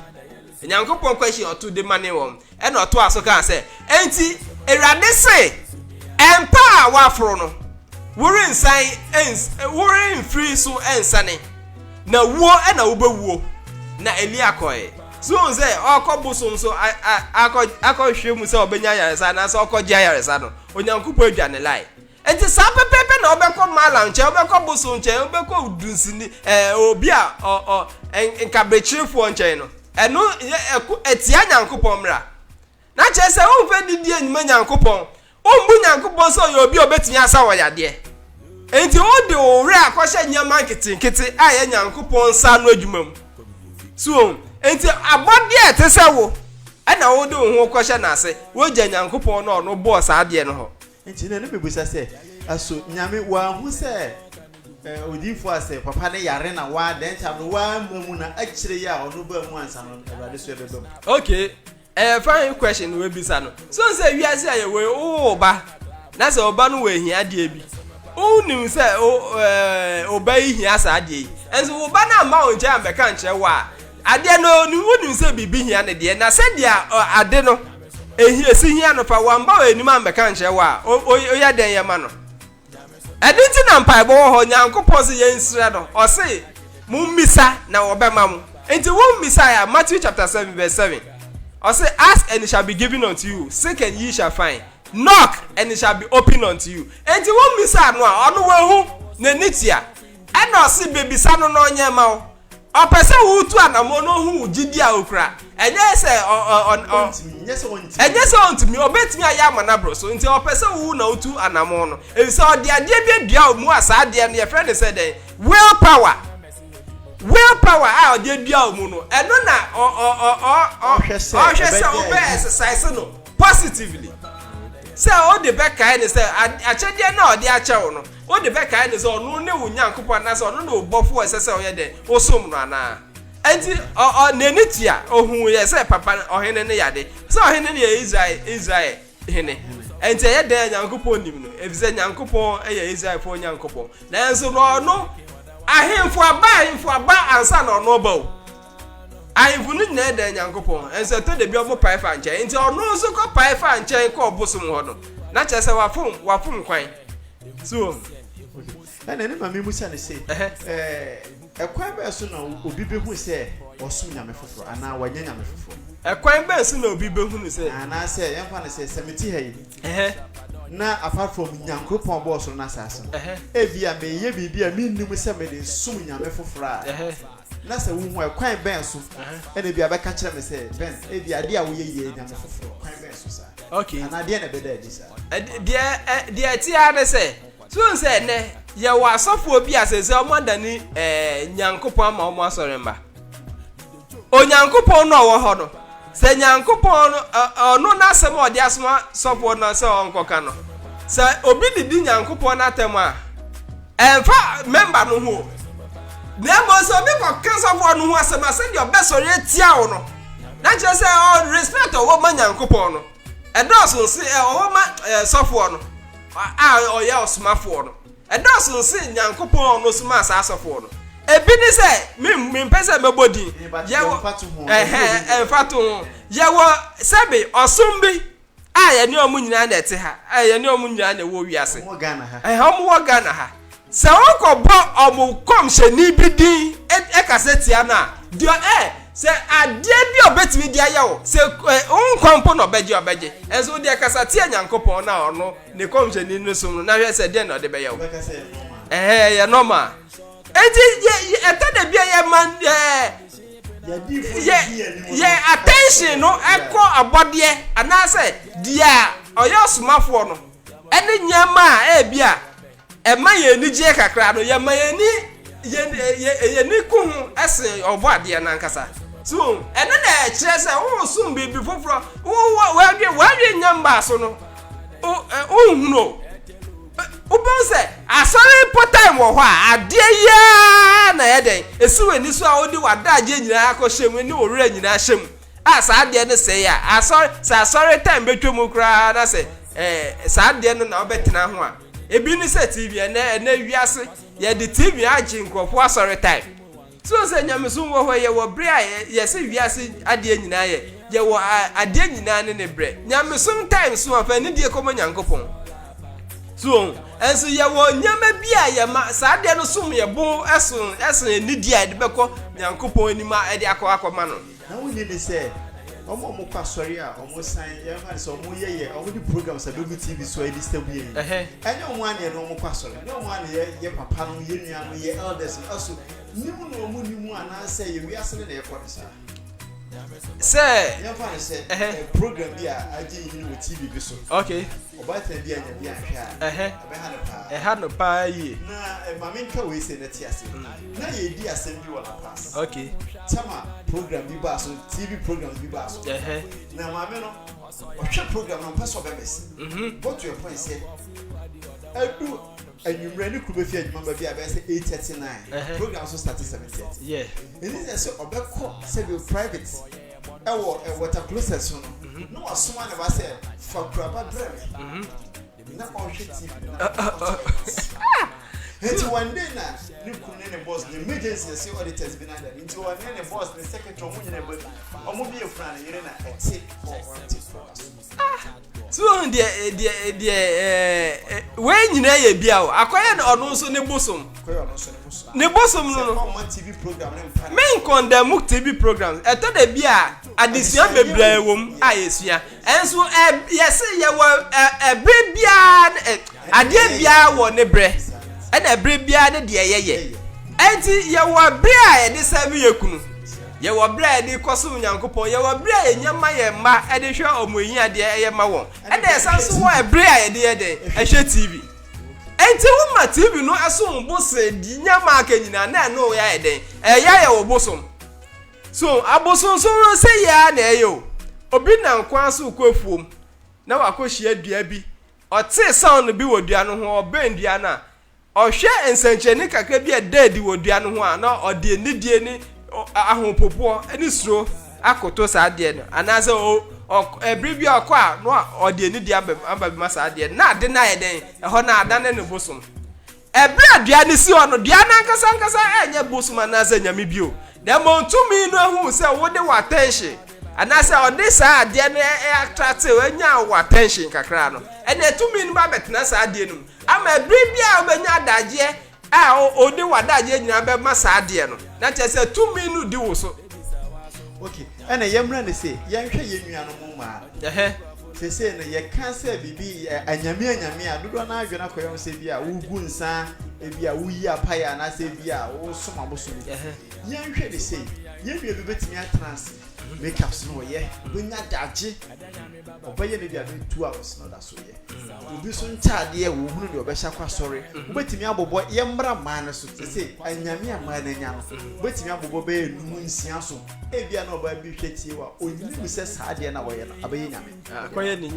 S3: Onyankopɔn question ɔto de mane wɔn. Ɛna ɔtoa so kaa sɛ, Enti Awurade se, Mpa a woaforo no, worensan ens, woremfiri so nsane, na wuo na wobɛwuo. Na Elia kɔe. So wohu sɛ ɔkɔ bosom so akɔhwehwɛ mu sɛ ɔbɛnya ayaresa anaasɛ ɔkɔgye ayaresa no? Onyankopɔn adwa ne line. Enti saa pɛpɛɛpɛ na wobɛkɔ malam nkyɛn, wobɛkɔ bosom nkyɛn, wobɛkɔ dunsini ɛɛ obi a ɔ ɔ nkabrekyerefoɔ nkyɛn no. Ɛno yɛ ɛko ɛtia Nyankopɔn mmara. Na kyerɛ sɛ wompɛ nidi a nnima Nyankopɔn, wombu Nyankopɔn sɛ ɔyɛ obi a obetumi asa wɔn yadeɛ. Enti wode wo werɛ akɔhyɛ nneɛma nketenkete a ɛyɛ Nyankopɔn nsa ano adwuma mu. So ohu? Enti abɔdeɛ a ɛte sɛ wo na wode wo ho kɔhyɛ n'ase, woagya Nyankopɔn no a ɔno bɔɔ saa adeɛ no hɔ. Enti na ne mebisa
S1: sɛ, So Nyame wanhu sɛ odiyifo a sɛ papa no yare na w'adɛn ntam no w'amma mu na akyire yi a ɔno baa mu ansa no Awurade so ɛbɛba mu? Okay,
S3: Ɛyɛ fine question na wabisa no. So wohu sɛ wiase a yɛwɔ yi, wowɔ wo ba na sɛ wo ba no wɔ ahiadeɛ bi, wonim sɛ wo eh, wo ba yi hia saa adeɛ yi. Nso wo ba no amma wo nkyɛn ammɛka nkyerɛ wo a, adeɛ no onim, wonim sɛ biribi hia no deɛ, na sɛdeɛ eh, ade no ehia si hia no fa, wamma w'anim ammɛka nkyerɛ wo a, o- o- woyɛ dɛn yɛ ma no? Ɛde nti na mpaebɔ wɔ hɔ, Nyankopɔn se yɛn nsrɛ no, ɔse, Mo mmisa na wɔbɛma mo. Enti wo mmisae a, Matthew chapter 7 verse 7, ɔse, Ask and it shall be given unto you, seek and ye shall find, knock and it shall be opened unto you. Enti wo mmisa no a, ɔno wahu, n'ani tua, ɛna ɔse bebisa no na ɔnyɛ ma wo. Ɔpɛ sɛ wutu anammɔn na ohu wo gyidi a wukura. Ɛnyɛ sɛ ɔ, ɔ, ɔ, ɔ, ɛnyɛ sɛ ontumi, obetumi ayɛ ama no aboro so. Nti ɔpɛ sɛ wuhu na wutu anammɔn no, efisɛ ɔde adeɛ bi adua wo mu a saa adeɛ no yɛfrɛ no sɛ dɛn? Will power. Will power a ɔde adua wo mu no, ɛno na ɔ, ɔ, ɔ, ɔ, ɔ, ɔhwɛ sɛ wobɛ exercise no positively. Sɛ wode bɛkae no sɛ akyɛdeɛ no a ɔde akyɛ wo no, Wode bɛkae no sɛ ɔno ne wo Nyankopɔn anaasɛ ɔno ne wo Bɔfo a ɛsɛ sɛ woyɛ dɛn? Wosom no anaa? Enti ɔ, ɔ, n'ani tua, ohuiɛ sɛ papa no, ɔhene no yɛ ade. Sɛ ɔhene no yɛ Israel, Israel hene. Enti ɛyɛ dɛn a Nyankopɔn nim no? Efisɛ Nyankopɔn yɛ Israelfoɔ Nyankopɔn. Nanso na ɔno, ahemfo aba, ahemfo aba ansa na ɔno ɔba o. Ahemfo no nyinaa dan Nyankopɔn ho, nso ɛtɔ da bi ɔmo pae fa nkyɛn. Nti ɔno nso kɔ pae fa nkyɛn kɔ ɔbosom hɔ no, na kyerɛ sɛ wafom, wafom kwan. So wɔn?
S1: Ɛna ɛne ma mimisa no se, ɛɛ, kwan bɛn so na obi behu sɛ ɔsom nyame foforo anaa wanya nyame foforo? Ɛkwan bɛn so na
S3: obi behunu sɛ. Anaasɛ yɛmfa no sɛ,
S1: sɛ mete ha yi. Ɛhɛ. Na apart from Nyankopɔn a ɔbɔɔ ɔsoro ne asaase no, ɛhɛ, ebia mereyɛ biribi a minnim sɛ mede resom nyame foforo a. Ɛhɛ. Na sɛ wuhu a, ɛkwan bɛn so? Ɛna ebia bɛka kyerɛ me sɛ, Ben, ebia ade a woyɛ yi yɛ anyame foforo. Kwan bɛn so saa? Okay. Anaa deɛ na ɛbɛda
S3: adi
S1: saa? Ɛ- Deɛ ɛ-
S3: deɛ ɛte ara ne sɛ, so wohu sɛ ɛnnɛ yɛwɔ asɔfoɔ bi a sɛsɛ wɔn adane ɛɛ Nyankopɔn ama wɔn asɔre mma. Onyankopɔn no a ɔwɔ hɔ no, Sɛ Nyankopɔn no, Ɔno N'asɛm a Ɔde asoma sɔfoɔ no sɛ ɔnkɔka no, sɛ obi didi Nyankopɔn n'atɛm a, ɛmfa mɛmba no ho o, na mmom sɛ obi kɔka sɔfoɔ no ho asɛm a, sɛdeɛ ɔbɛsɔre atia wo no, na kyerɛ sɛ ɔ respect a ɔwɔ ma Nyankopɔn no, ɛdɔɔso se ɔwɔ ma sɔfoɔ no a ɔyɛ ɔsomafoɔ no. Ɛdɔɔso no sen Nyankopɔn a ɔno somaa saa asɔfoɔ no. Ebi ne sɛ, me, mempɛ sɛ mɛbɔ din. Eh, but Yɛwɔ, yɛmfa to ho, yɛmfa ɛhɛn, obi din. ɛmfa to ho. Yɛwɔ, sɛbe, ɔsom bi a yɛne wɔn nyinaa na ɛte ha, a yɛne wɔn nyinaa na ɛwɔ wiase. Wɔwɔ Ghana ha. Ɛhɛn,
S1: wɔn wɔ Ghana ha.
S3: Sɛ wɔkɔbɔ wɔn kɔmhyɛni bi din ɛ- ɛkasa tia no a, deɛ ɔ- eh, sɛ adeɛ bi a ɔbɛtumi de ayɛ wo, sɛ eh, wo nkwa mpo na ɔbɛgye a, ɔbɛgye. Ɛnso wo deɛ kasa tia Nyankopɔn no a ɔno ne kɔmhyɛni no som no na hwɛ sɛ deɛ na ɔde bɛyɛ wo ɛhɛ ɛyɛ nɔma enti ɛtɔ da bia yɛ ma yɛ yɛ attention no ɛkɔ abɔdeɛ anaasɛ deɛ ɔyɛ ɔsomafoɔ no ɛne nneɛma a ɛbi a Ɛma yɛn ani gyeɛ kakra no, yɛma yɛn ani yɛn yɛn ani ku ho ɛsen ɔbɔ adeɛ no ankasa. So ɛno na ɛkyerɛ sɛ woresom biribi foforɔ, wɔadwe wɔadwe nya mbaa so no, wonhunu o. Wobɛhu sɛ asɔre mpo time wɔ hɔ a, adeɛ yiaa na ɛyɛ dɛn, ɛsi w'ani so a wode w'adagyeɛ nyinaa akɔhyɛ mu ne wo werɛ nyinaa hyɛ mu a saa adeɛ no sɛe a, asɔre sɛ asɔre time bɛtwa mu koraa na sɛ ɛɛ saa adeɛ no na wobɛtena ho a. Ebi ne sɛ TV ɛnɛ ɛnɛ wiase yɛde TV agye nkurɔfoɔ asɔre time. So sɛ nyamesom wɔ hɔ yɛwɔ berɛ a yɛse wiase adeɛ nyinaa yɛ yɛwɔ adeɛ nyinaa ne ne berɛ. Nyamesom time so a fa anidie kɔma Nyankopɔn. So wɔn ɛnso yɛwɔ nneɛma bi a yɛma saa adeɛ no som yɛbo ɛso ɛsen anidie a yɛde bɛkɔ Nyankopɔn anim a ɛde akɔ akɔma no. Na wonni ne sɛ
S1: wɔn a wɔkɔ asɔre a wɔsan yɛmfa ne sɛ wɔyɛ yɛ wɔde programs a bɛgu tv so a ɛde sɛ bue yi ɛnyɛ wɔn aneɛ no wɔkɔ asɔre ne wɔn aneɛ yɛ papa no yɛ nua no yɛ elders no aso nim na wɔn nim anaasɛ yɛ wiase no na ɛkɔ no saa
S3: sɛ yɛmfa ne
S1: sɛ program bi a agye yi ne wɔ tv bi so okay Ɔbaatan
S3: bi annya
S1: bi anhwɛ a, ɛbɛha no paa. Ɛha
S3: no paa yie. Na eh, ma mentwa
S1: wei sei na te ase. Na yɛredi asɛm bi wɔ La Paz. Okay. Tama program bi baa so, TV programs bi baa so. Ɛhɛ. Na maame no, ɔhwɛ program no, ɔmpɛ sɛ ɔbɛmɛse. Mhm. Go to a point sɛ, adu anwummerɛ ne kuru bɛfi adwuma ba bi a bɛyɛ sɛ 8:30 9. Ɛhɛ. Program so starte 7:30. Yeah. Ɛni sɛ
S3: sɛ
S1: ɔbɛkɔ sɛdeɛ private ɛwɔ ɛ water closet so no mhm. na wasoma ne ba sɛ fa kuraba brɛ me mhm. na ɔhwɛ tv na ah, ah, ɔtɔ ah. nti one day na ne kun ne ne boss ne emergency ɛsɛ auditors bi n'ada nti wɔn ne ne boss ne secretary wɔn nyinaa bɔ bi wɔn bi efura ne yere na ɛte hɔ wɔn te fura so.
S3: Ah, so wɔn deɛ eh, deɛ eh, deɛ ɛɛ eh, wɔn nyinaa yɛ bi a o akɔyɛ no ɔno nso ne bosom ne bosom no no
S1: me nkɔndamu tv
S3: program ɛtɔ da bi a adesua bebree wɔ mu a yɛsua ɛnso ɛ yɛsɛ yɛwɔ ɛ ɛbere biara ne- ɛ adeɛ biara wɔ ne brɛ ɛna ɛbere biara ne deɛ yɛyɛ ɛnti yɛwɔ bere a yɛde sɛbi yɛ kunu. Yɛwɔ berɛ a yɛde rekɔ som Nyankopɔn. Yɛwɔ berɛ a yɛnya ma yɛn mma de hwɛ wɔn ahiadeɛ yɛ ma wɔn. Ɛna yɛsan nso wɔ ɛberɛ a yɛde yɛ dɛn? Hwɛ TV. Enti wo ma TV no som wo bo sen deɛ nneɛma a aka nyinaa na ɛno reyɛ ayɛ dɛn? Ɛreyɛ ayɛ wo bosom. So abosonsom no sɛ yɛ ara na ɛyɛ o. Obi nam kwan so rekɔ afuom na wakɔhyia dua bi. Ɔtee sound bi wɔ dua no ho, ɔbɛn dua no a, Ɔhwɛ nsɛnkyerɛnne kakra bi a ɛda adi wɔ dua no ho a, na ɔde anidie ne ahopopoɔ ne suro akoto saa adeɛ no, anaasɛ ɛberɛ bi a ɔkɔ a na ɔde anidie aba bɛma saa adeɛ no, na ade no ayɛ dɛn? Ɛhɔ no adane ne bosom. Ɛberɛ a dua no si hɔ no, dua no ankasa ankasa ɛnyɛ bosom anaasɛ nyame bio, na mmom tumi no ahu sɛ wode wɔ attention, anaasɛ ɔde saa adeɛ no attractew, ɛnyaa wɔ attention kakra no, ɛnna tumi no ba bɛtena saa adeɛ no mu. Ama bere bi a wobɛnya adagyeɛ a wode w'adagyeɛ nyinaa bɛma saa adeɛ no, na kyerɛ sɛ tumi no di wo so. Ok,
S1: ɛna yɛmmra no sei, yɛnhwɛ yɛn nuanom mmaa no. Ɛhɛ. Seesei no, yɛka sɛ biribi yɛ anyame anyame a, dodoɔ no ara adwene akɔyɛ ho sɛ ebia wogu nsa, ebia woyi apaeɛ anaasɛ ebia wosom abosom bi. Ɛhɛ. Yɛnhwɛ no sei, yɛn nua bi bɛtumi atena ase, make-ups no ɔyɛ, ɔbɛnya adagye. ɔbɛyɛ no de ano etu a ɔsɛ no da so yɛ mm. obi so ntaadeɛ wɔn hunu deɛ ɔbɛhyɛ akɔ asɔre mm-hmm. wobɛtumi abobɔ yɛ mmra mmaa no so sɛ anyame a mmaa no anya no mm-hmm. wobɛtumi abobɔ bɛyɛ num nsia so ebia na ɔbaa bi hwɛ tie wa onyini mu sɛ saa deɛ na wɔyɛ no abɛyɛ nyame ah, akɔyɛ ne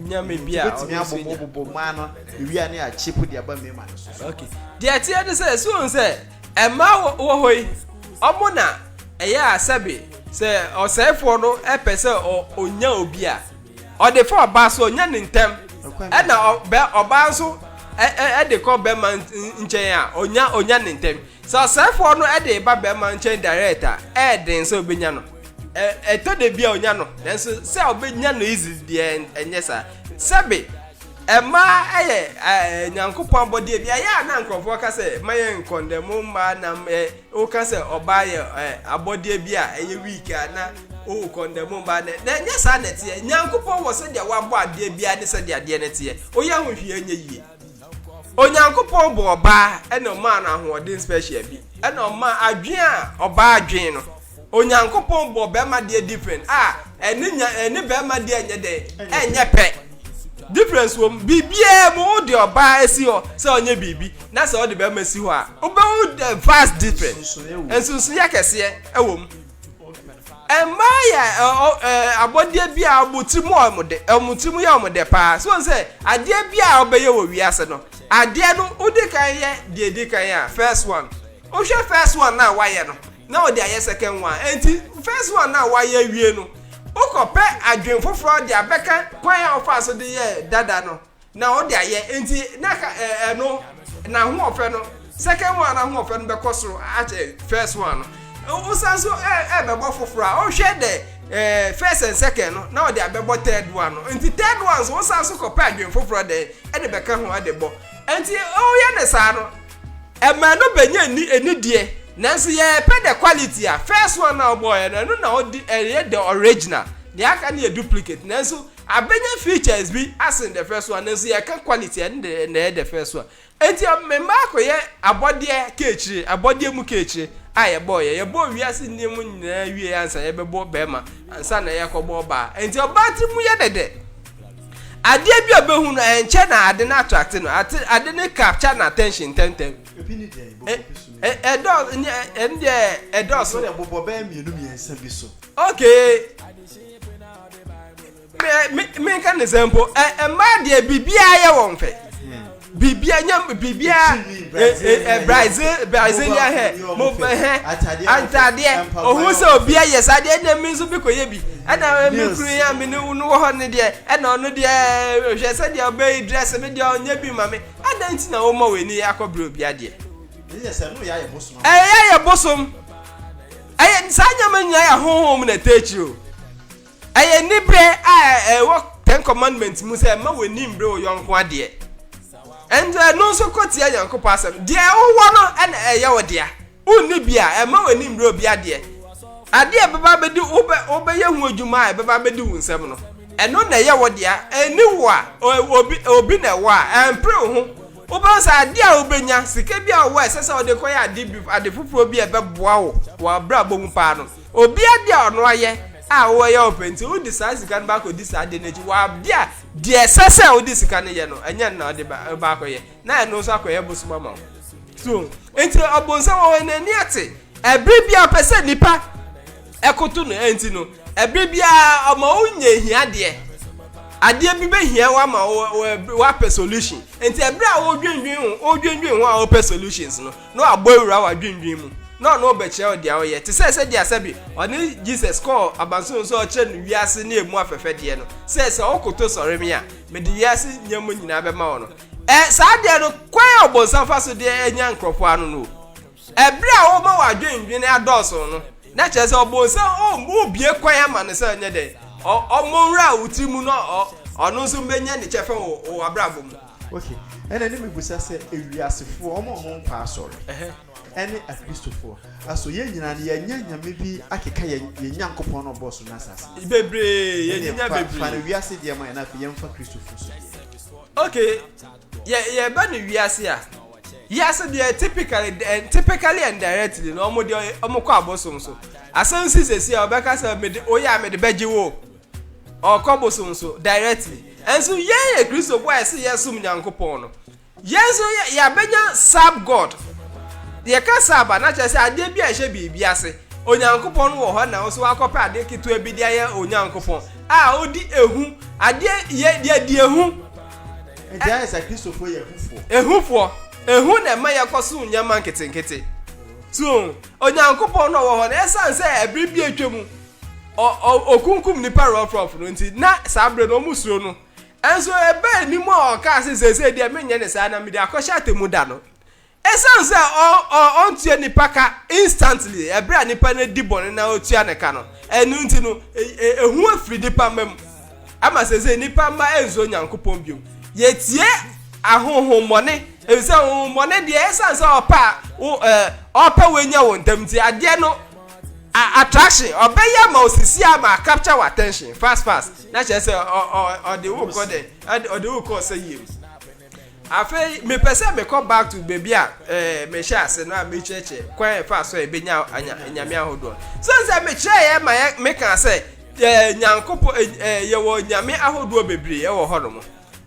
S3: nyame bi a wobɛtumi abobɔ bobɔ
S1: mmaa no ewia ne akyepo de aba mmarima no so deɛ ɛteɛ ne
S3: sɛ ɛsuon sɛ Mmaa wɔ wɔ hɔ yi, wɔn na ɛyɛ a sɛbe sɛ ɔsɛefoɔ no pɛ sɛ ɔnya obi a, ɔde fa ɔbaa so, ɔnya ne ntɛm. Ɛna ɔbaa nso de kɔ bɛrima nkyɛn a, ɔnya ɔnya ne ntɛm. Sɛ ɔsɛefoɔ no de ba bɛrima nkyɛn direct a, ɛɛden sɛ ɔbɛnya no. Ɛtɔ da bi a ɔnya no, nanso sɛ ɔbɛnya no easily deɛ ɛnyɛ saa. Sɛbe. Mmaa yɛ Nyankopɔn abɔdeɛ bi a ɛyɛ a na nkorɔfoɔ ka sɛ ma yɛ nkɔ ndɛ mo mmaa nam ɛ woka sɛ ɔbaa yɛ ɛ abɔdeɛ bi a ɛyɛ weak a na wokɔ ndɛ mo mmaa nɛ na ɛnyɛ saa na ɛteɛ Nyankopɔn wɔ sɛdeɛ wabɔ adeɛ biara ne sɛdeɛ adeɛ no teɛ woyɛ ho hwee ɛnyɛ yie Onyankopɔn bɔɔ ɔbaa ɛna ɔmaa no ahoɔden special bi ɛna ɔmaa adwen a ɔbaa dwen no Onyankopɔn bɔɔ bɛrima deɛ different a ɛne nya ɛne bɛrima deɛ nyɛ dɛ ɛnyɛ pɛ difference wɔm biribiara mu wo de ɔbaa esi hɔ sɛ ɔnyɛ biribi na sɛ ɔde bɛrima si hɔ a wobɛhu the vast different nsonsoyɛ kɛseɛ ɛwɔ mu mmaa yɛ abɔdeɛ bi a wɔn tiri mu wɔn de wɔn tiri mu yɛ wɔn dɛ paa so wɔn sɛ adeɛ bi a wɔbɛyɛ wɔ wiase no adeɛ no wodi kan yɛ deɛ edi kan a first one wohwɛ first one na wayɛ no. na ɔde ayɛ second one enti first one no a wayɛ awie no wokɔ pɛ adwen foforɔ de abɛka kwan a ɔfaa so de yɛɛ dada no na ɔde ayɛ enti na ka ɛno na ho ɔfɛ no second one na ho ɔfɛ no bɛkɔ soro akyɛ first one no wosan so ɛbɛbɔ foforɔ a ɔhwɛ dɛ ɛɛ first and second no na ɔde abɛbɔ third one no nti third one so wosan so kɔpɛ adwen foforɔ dɛ ɛde bɛka ho ɛde bɔ nti ɔyɛ ne saa no Ɛmaa no bɛnya ni ɛni deɛ nanso yɛɛpɛ the quality a first one na ɔbɔɔyɛ no ɛno na ɔdi ɛyɛ the original deɛ aka no yɛ duplicate nanso abɛnya features bi asen the first one nanso yɛɛka quality ɛno de na ɛyɛ the first one ɛnti mmaa akɔyɛ abɔdeɛ kɛɛkyire abɔdeɛ mu kɛɛkyire a yɛbɔɔyɛ yɛbɔɔ wiase nneɛma nyinaa wie ansa yɛbɛbɔ bɛɛma ansa na yɛkɔbɔ ɔbaa ɛnti ɔbaa tiri mu yɛ dɛdɛ Adeɛ bi a ɔbɛhu no ɛnkyɛ na ade no attracte no ate ade no capture na attention ntɛmntɛm. Ebi ne deɛ ɛbobɔ bi so no. Ɛdɔ ɛne deɛ ɛdɔɔso. Ɛbɛyɛ ɛbobɔ bɛyɛ
S1: mmienu mmiɛnsa bi so. Okay.
S3: Me me me nka ne sɛ mpo ɛ mmaa deɛ biribiara yɛ wɔn fɛ. biribiara nya biribiara brazil brazilian hair mo hɛ antadeɛ ohun sɛ obi ayɛ saa deɛ ɛna mi nso bi kɔ yɛ bi ɛna mi kuru yɛ mi ne no wɔ hɔ ne deɛ ɛna ɔno deɛ hwɛ sɛ deɛ ɔbɛyi dress mi deɛ ɔnyɛ bi ma mi ɛna nti na wɔn ma wɔn ani akɔ bere obi adeɛ
S1: ɛyɛ yɛ bosom
S3: ɛyɛ saa nyɛma nyinaa yɛ ahohom na ɛtɛ akyiri o. Ɛyɛ anibere a ɛwɔ Ten Commandments mu sɛ mma w'ani mbre wo yɔnko adeɛ. Ɛnso ɛno nso kɔ tia Nyankopɔn asɛm. Deɛ wowɔ no na ɛyɛ wo dea. Wonni bi a, ɛmma w'ani mbre obi adeɛ. Adeɛ a ɛbɛba abɛdi wobɛ wobɛyɛ ho adwuma a ɛbɛba abɛdi wo nsam no, ɛno na ɛyɛ wo dea. Ɛnni wo a, obi obi na ɛwɔ a, ɛmpere wo ho. Wobɛhu sɛ adeɛ a wobɛnya, sika bi a wowɔ a ɛsɛ sɛ wode kɔyɛ ade bi ade foforɔ bi a ɛbɛboa wo wɔ w'abrabɔ mu paa no, Obi ade a ɔno ayɛ a wo ɛyɛ wo pɛ nti wode saa sika no ba akɔdi saa ade no akyi, wɔ ade a deɛ ɛsɛ sɛ wode sika no yɛ no ɛnyɛ no na wode ba ba akɔyɛ na ɛno nso akɔyɛ bosom ama wo. So nti ɔbonsam wɔ hɔ n'ani ate ɛbere bi a ɔpɛ sɛ nipa ɛkoto no ɛnti no ɛbere bi a ɔma wo nyɛ hiadeɛ adeɛ bi bɛ hia wo ama wo wapɛ solution nti ɛbere a wodwendwen ho wodwendwen ho a wopɛ solutions no na ɔabɔ ewura wɔ adwendwen mu, na ɔno rebɛkyerɛw dza ɔyɛ, tse sɛ sɛdeɛ sɛ bi ɔne Jesus kɔɔ abansoro no sɛ ɔrekyerɛ no wiase ne emu afɛfɛdeɛ no, sɛ, Sɛ wokoto sɔre me a, mede wiase nneɛma nyinaa bɛma wo no. Ɛ, saa adeɛ no, kwan a Ɔbonsam fa so de nya nkorɔfoɔ ano no o. Ɛ, berɛ a ɔma w'adwendwene adɔɔso no, na kyerɛ sɛ Ɔbonsam o, wobue kwan ama no sɛ ɔnyɛ dɛn? Ɔ, ɔmmɔ nwura wo tiri mu na ɔ, ɔno nso bɛnya ne kyɛfa wɔ w'abrabɔ mu. Ok, ɛna ne
S1: mebisa sɛ ewiasefoɔ, wɔn a wɔnkɔ asɔre, ɛne akristofoɔ, aso yɛn nyinaa no yɛanya nyame bi akeka yɛn yɛn Nyankopɔn no a ɔbɔɔ so ne asase no so? Bebree, yɛn Ɛneɛ
S3: nya fa fa bebree. no wiase deɛ ma yɛn na
S1: afei yɛmfa Kristofoɔ so deɛ. Ok,
S3: yɛ yɛba no wiase a, wiase deɛ typically eh, typically and directly no wɔn deɛ wɔn kɔ abosom so. Asɛm si sɛsi a wɔbɛka sɛ mede woyɛ a mede bɛgye wo. ɔkɔ bosom so directly. Nso yɛn yɛ Kristofo a yɛsɛ yɛsom Nyankopɔn no, yɛn nso yɛabɛnya sub god. Yɛka sub a, na kyerɛ sɛ adeɛ bi a ɛhyɛ biribi ase. Onyankopɔn no wɔ hɔ na wo nso wakɔpɛ adeɛ ketewa bi de ayɛ Onyankopɔn a odi ehu. Adeɛ yɛ yɛdi ehu. Nti ayɛ
S1: sɛ Kristofo yɛ ehufoɔ. Ehufoɔ.
S3: Ehu na ɛma yɛkɔsom nneɛma nketenkete. So Onyankopɔn no a ɔwɔ hɔ no, ɛsiane sɛ ɛbere bi atwa mu Ɔ, ɔ, okunkum nnipa rɔfrɔf no nti, na saa bere no wɔsuro no. Nanso ɛbaa anim a ɔkaa sɛ, Seesei deɛ merenyɛ no saa, na mede akɔhyɛ atemmu da no. Esiane sɛ ɔ, ɔ, ɔntua nnipa ka instantly, bere a nnipa no adi bɔne na otua ne ka no, ɛno nti no, e, e, ehu afiri nnipa mma mu. Ama seesei nnipa mma nsuro Nyankopɔn bio. Yetie ahonhommɔne, efisɛ honhommɔne deɛ, esiane sɛ ɔpɛ a wo, ɛ, ɔpɛ wo anya wo ntɛm nti, adeɛ no a attraction ɔbɛyɛ ama osisi ama a capture wɔ attention fast fast na kyerɛ sɛ ɔde wo kɔ dɛ ɔde wo kɔ sɛ yie mu afei mepɛ sɛ mekɔ back to baabi a ɛɛ mehyɛ ase no a mekyerɛkyerɛ kwan a ɛfa so a ebenya anya nyame ahodoɔ so sɛ mekyerɛ yɛ ma yɛ meka sɛ ɛɛ nyankopɔ ɛɛ yɛwɔ nyame ahodoɔ bebree ɛwɔ hɔ nom.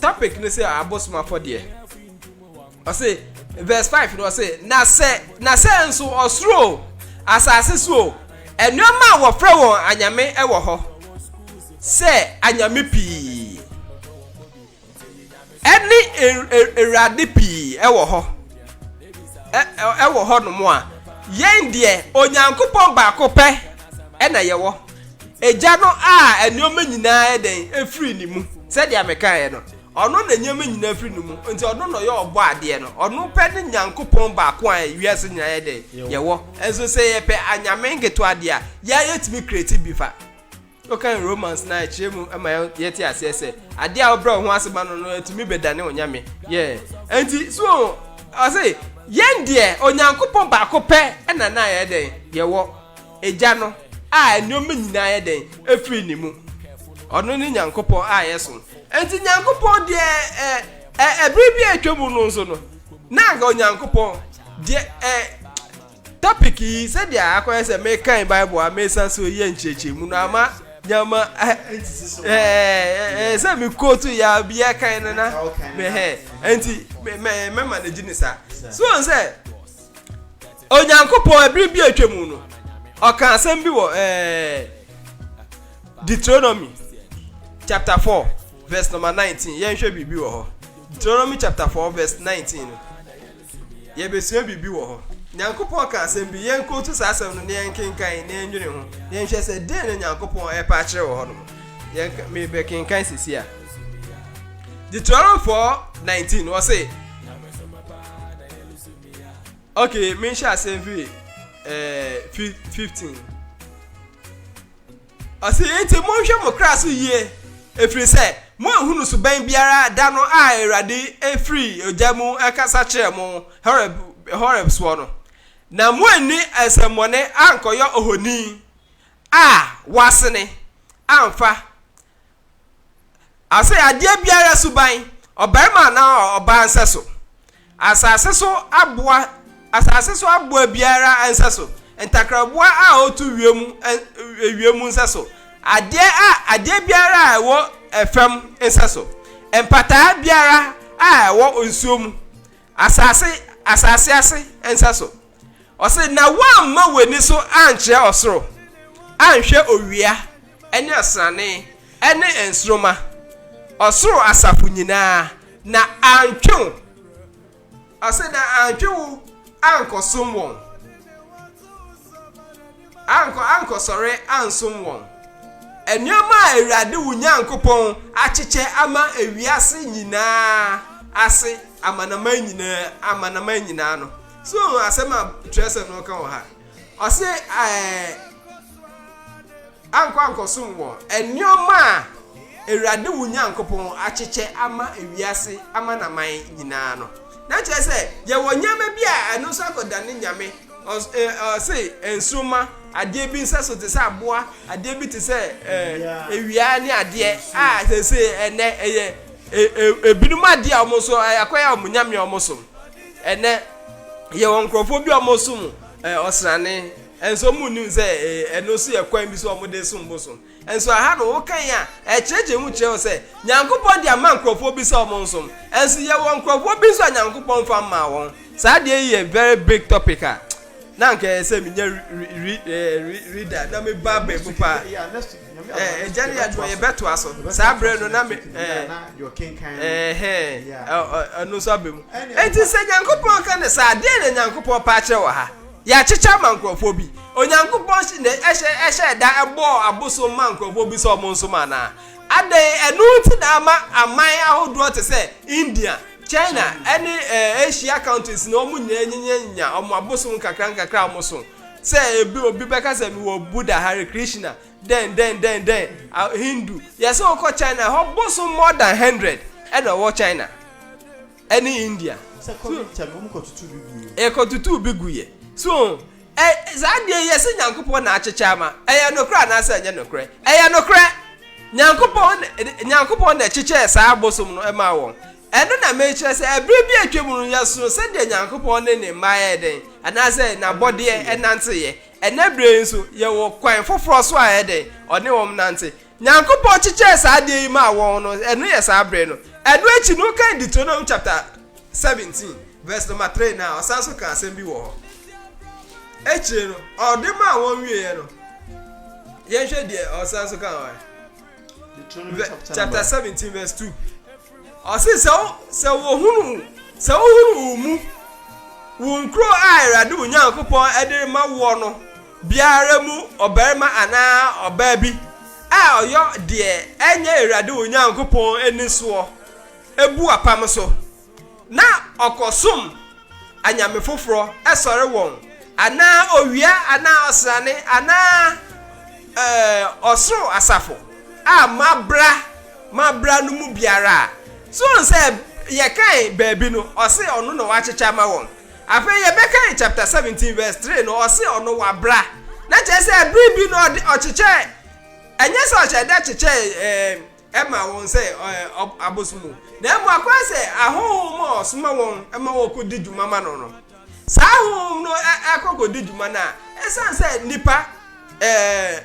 S3: Topic no sɛ abosom afɔdeɛ. Ɔse verse five no ɔse na sɛ na sɛ nso ɔsoro o asase so o nneɛma a wɔfrɛ wɔn anyame wɔ hɔ sɛ anyame pii ɛne awurade pii ɛwɔ hɔ ɛwɔ hɔ nom a yɛn deɛ onyankopɔn baako pɛ ɛna yɛwɔ. Agya no a nneɛma nyinaa yɛ dɛn firi ne mu, sɛdeɛ mekaeɛ no, ɔno na nneɛma nyinaa firi ne mu, nti ɔno na ɔyɛ ɔbɔadeɛ no, ɔno pɛ ne Nyankopɔn baako a wiase nyinaa yɛ dɛn, yɛwɔ, nso sɛ yɛpɛ anyame nketewa deɛ a, yɛa yɛtumi kreti bi fa. Wokan Romans no a, ɛkyerɛ mu ma yɛte aseɛ sɛ, adeɛ a wobrɛ wo ho ase ma no no ɛtumi bɛdane wo nyame, yeah, ɛnti, so ɔho, ɔse, yɛn deɛ Onyankopɔn baako pɛ na na yɛyɛ dɛn, yɛwɔ. Agya no a nneɛma nyinaa yɛ dɛn firi ne mu. Ɔno ne Nyankopɔn a yɛsom. Enti Nyankopɔn deɛ ɛ, ɛ, ɛbere bi a atwa mu no nso no, na anka Onyankopɔn deɛ ɛ, topic yi, sɛdeɛ akɔyɛ sɛ mekan Bible a mesan so yɛ nkyerɛkyerɛmu no ama nneɛma ɛ, ɛ, ɛ, sɛ me kootu yɛ a biara kan no na mehɛ. Enti mɛma no gyi ne saa. So wɔn sɛ, Onyankopɔn, bere bi a atwam no, ɔkaa asɛm bi wɔ Deuteronomy chapter 4 verse number 19. Yɛnhwɛ biribi wɔ hɔ. Deuteronomy chapter 4 verse 19 no. Yɛbɛsua biribi wɔ hɔ. Nyankopɔn ka asɛm bi, yɛnkɔtu saa asɛm no na yɛnkenkan na yɛnwene ho. Yɛnhwɛ sɛ dɛn na Nyankopɔn ɛpɛ akyerɛ wɔ hɔ no. Mebɛkenkan sisi a. Deuteronomy 4 19 wɔ se, Ok, me nhyɛ aseɛ mfiri eh, fi, 15. Ɔse, enti monhwɛ mo kra so yie, ɛfiri sɛ moanhunu suban biara da no a Awurade firi ogya mu kasa kyerɛɛ mo Horeb, Horeb soɔ no, na moanni nsɛmmɔne ankɔyɔ ohoni a wasene amfa Ase adeɛ biara suban, ɔbarima anaa ɔbaa nsɛso. Asase so aboa, asase so aboa biara nsɛso. Ntakraboa a ɔtu wiem, wiem nsɛso. Adeɛ a adeɛ biara a ɛwɔ ɛfam nsɛso. Mpataa biara a ɛwɔ nsuo mu. Asase, asase ase nsɛso. Ɔse, na woamma w'ani so ankyerɛ ɔsoro, anhwɛ owia ne asrane ne nsoroma, ɔsoro asafo nyinaa, na antwe wo, ɔse, na antwe wo ankɔsom wɔn, ankɔ, ankɔsɔre ansom wɔn. Nneɛma a Awurade wo Nyankopɔn akyekyɛ ama ewiase nyinaa ase amanaman nyinaa, amanaman nyinaa no, So woahu asɛm a Kyerɛwsɛm no ka wɔ ha? Ɔse, Ɛɛ, ankɔ ankɔsom wɔ nneɛma a Awurade wo Nyankopɔn akyekyɛ ama wiase amanaman nyinaa no. Na kyerɛ sɛ, yɛwɔ nneɛma bi a ɛno nso akɔdane nyame. Ɔs, ɛ, ɔse, nsoromma, adeɛ bi nsɛso te sɛ aboa, adeɛ bi te sɛ, ɛɛ, awia ne adeɛ a seesei ɛnnɛ ɛyɛ, ɛ, ɛ, ebinom adeɛ a wɔn nso, ɛɛ, akɔyɛ wɔn nyame a wɔsom. Ɛnnɛ, yɛwɔ nkurɔfoɔ bi a wɔsom ɔsrane, nso wɔnnim sɛ ɛno nso yɛ kwan bi so a wɔde resom bosom. Nso aha no, wokan a, ɛkyerɛkyerɛ mu kyerɛ wo sɛ Nyankopɔn de ama nkurɔfoɔ bi sɛ wɔnsom. Nso yɛwɔ nkurɔfoɔ bi nso a Nyankopɔn mfa mmaa wɔn. Saa deɛ yi yɛ very big topic a na anka ɛyɛ sɛ menya reader na me ba bɛn mu paa ɛgya ne yɛadwuma yɛbɛtoa so saa berɛ no na me ɛno nso abɛ mu enti sɛ nyankopɔn ka ne saa deɛ na nyankopɔn paa kyerɛ wɔ ha yɛakyekyɛ ma nkurɔfoɔ bi onyankopɔn ɛhyɛ da ɛbɔɔ abosom ma nkurɔfoɔ bi sɛ ɔmo nso ma anaa adɛn ɛno nti na ama aman ahodoɔ te sɛ india China ne Asia countries no wɔn nyinaa nyinyɛ nya wɔn abosom nkakra nkakra a wɔn so sɛ ebi obi bɛka sɛ mewɔ Buddha Hare Krishna dɛn dɛn dɛn dɛn Hindu yɛsɛ wɔkɔ China hɔ bosom more than hundred ɛna ɔwɔ China ɛne India
S1: ɛkɔtutu bi gu
S3: yɛ so. Ɛ, saa adeɛ yi, yɛse Nyankopɔn na akyekyɛ ama, ɛyɛ nokorɛ anaasɛ ɛnyɛ nokorɛ? Ɛyɛ nokorɛ! Nyankopɔn na, Nyankopɔn na ɛkyekyɛɛ saa abosom no maa wɔn. Ɛno na merekyerɛ sɛ, ɛberɛ bi a atwam no, yɛsoo sɛdeɛ Nyankopɔn ne Ne mma yɛ dɛn, anaasɛ N'abɔdeɛ, nanteeɛ. Ɛnnɛ berɛ yi nso, yɛwɔ kwan foforɔ so a ɛyɛ dɛn? Ɔne wɔn nante. Nyankopɔn kyekyɛɛ saa adeɛ yi maa wɔn no, ɛno yɛ saa berɛ no. Ɛno akyi no, wokan Deuteronomy chapter seventeen verse number three no a, ɔsan so ka asɛm bi wɔ hɔ. Akyire no, ɔde maa wɔn wieɛ no, yɛnhwɛ deɛ ɔsan so ka wɔ chapter seventeen verse two. Ɔse sɛ wo sɛ wɔhunu sɛ wohunu wo mu wo nkuro a Awurade wo Nyankopɔn de rema woɔ no biara mu ɔbarima anaa ɔbaa bi a ɔyɔ deɛ ɛnyɛ Awurade wo Nyankopɔn ani soɔ bu apam so, na ɔkɔsom anyame foforɔ sɔre wɔn, anaa owia anaa ɔsrane anaa ɔsoro asafo a mabra mabra no mu biara a, so wohu sɛ yɛkae baabi no, ɔse ɔno na wakyekyɛ ama wɔn. Afei yɛbɛkan chapter seventeen verse three no, ɔse ɔno wabra, na kyerɛ sɛ bere bi no ɔde ɔkyekyɛɛ, ɛnyɛ sɛ ɔhyɛɛ da kyekyɛɛ ɛɛ ɛma wɔn sɛ ɛɛ ɔb abosom o, na mmom akɔyɛ sɛ ahonhom a ɔsoma wɔn ma wɔkɔdi dwuma ma no no, saa ahonhom no ɛ ɛkɔ kɔdi dwuma no a, ɛsiane sɛ nnipa ɛɛ.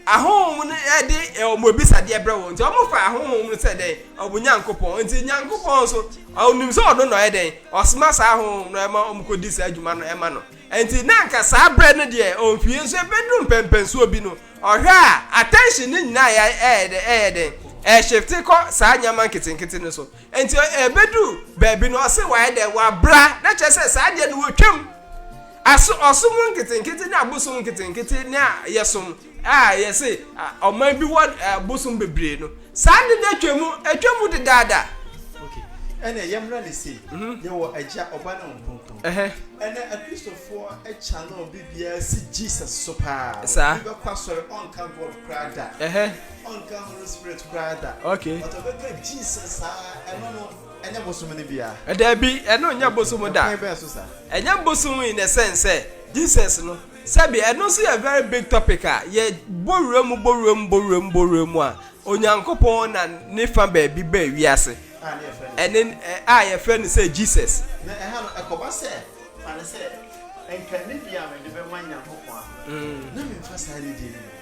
S3: ahonhom no de eh, wɔn abisadeɛ brɛ wɔn nti wɔn fa ahonhom no sɛ dɛn wɔn nyankopɔn nti nyankopɔn nso ɔnim sɛ ɔno na ɔyɛ dɛn ɔsoma saa ahonhom no ɛma wɔn kɔdi saa adwuma no ɛma no nti na nka saa brɛ no deɛ ɔnfie nso ɛbɛduru mpɛmpɛnsoɔ bi no ɔhwɛ a attention ne nyinaa ɛyɛ dɛn ɛyɛ dɛn ɛhyɛfte kɔ saa nneɛma nketenkete no so Nti ɛbɛdu baabi no ɔse wayɛ dɛ wabra na kyerɛ sɛ saa deɛ no wɔtwam aso ɔsom nketenkete ne abosom nketenkete ne a yɛsom a yɛse ɔman bi wɔ abosom bebree no saa ne no atwa mu atwa mu dedaada okay
S1: ɛnɛ yɛmmra ne sei mhm. yɛwɔ agya ɔba ne ɔnkronkron ɛnɛ akristofoɔ akya no bibiaa si jesus so paa bɛkɔ asɔre
S3: ɔnka
S1: god koraa da Ɔnka Holy Spirit koraa da. Okay. But ɔbɛka Jesus saa, ɛno no, ɛnyɛ
S3: bosom no bia. Dabi, ɛno nyɛ bosom da. Ɛkwan bɛn so sa? Ɛnyɛ bosom in the sense sɛ Jesus no, sɛbi ɛno nso yɛ very big topic a yɛ bɔ wura mu, bɔ wura mu, bɔ wura mu, bɔ wura mu a, Onyankopɔn na ne fa baabi baa wiase, ɛne a yɛfrɛ no sɛ Jesus. Na ɛha no, ɛkɔba sɛ, fa no sɛ, nka nidi a mede
S1: bɛma Nyankopɔn a, na memfa saa nidi no.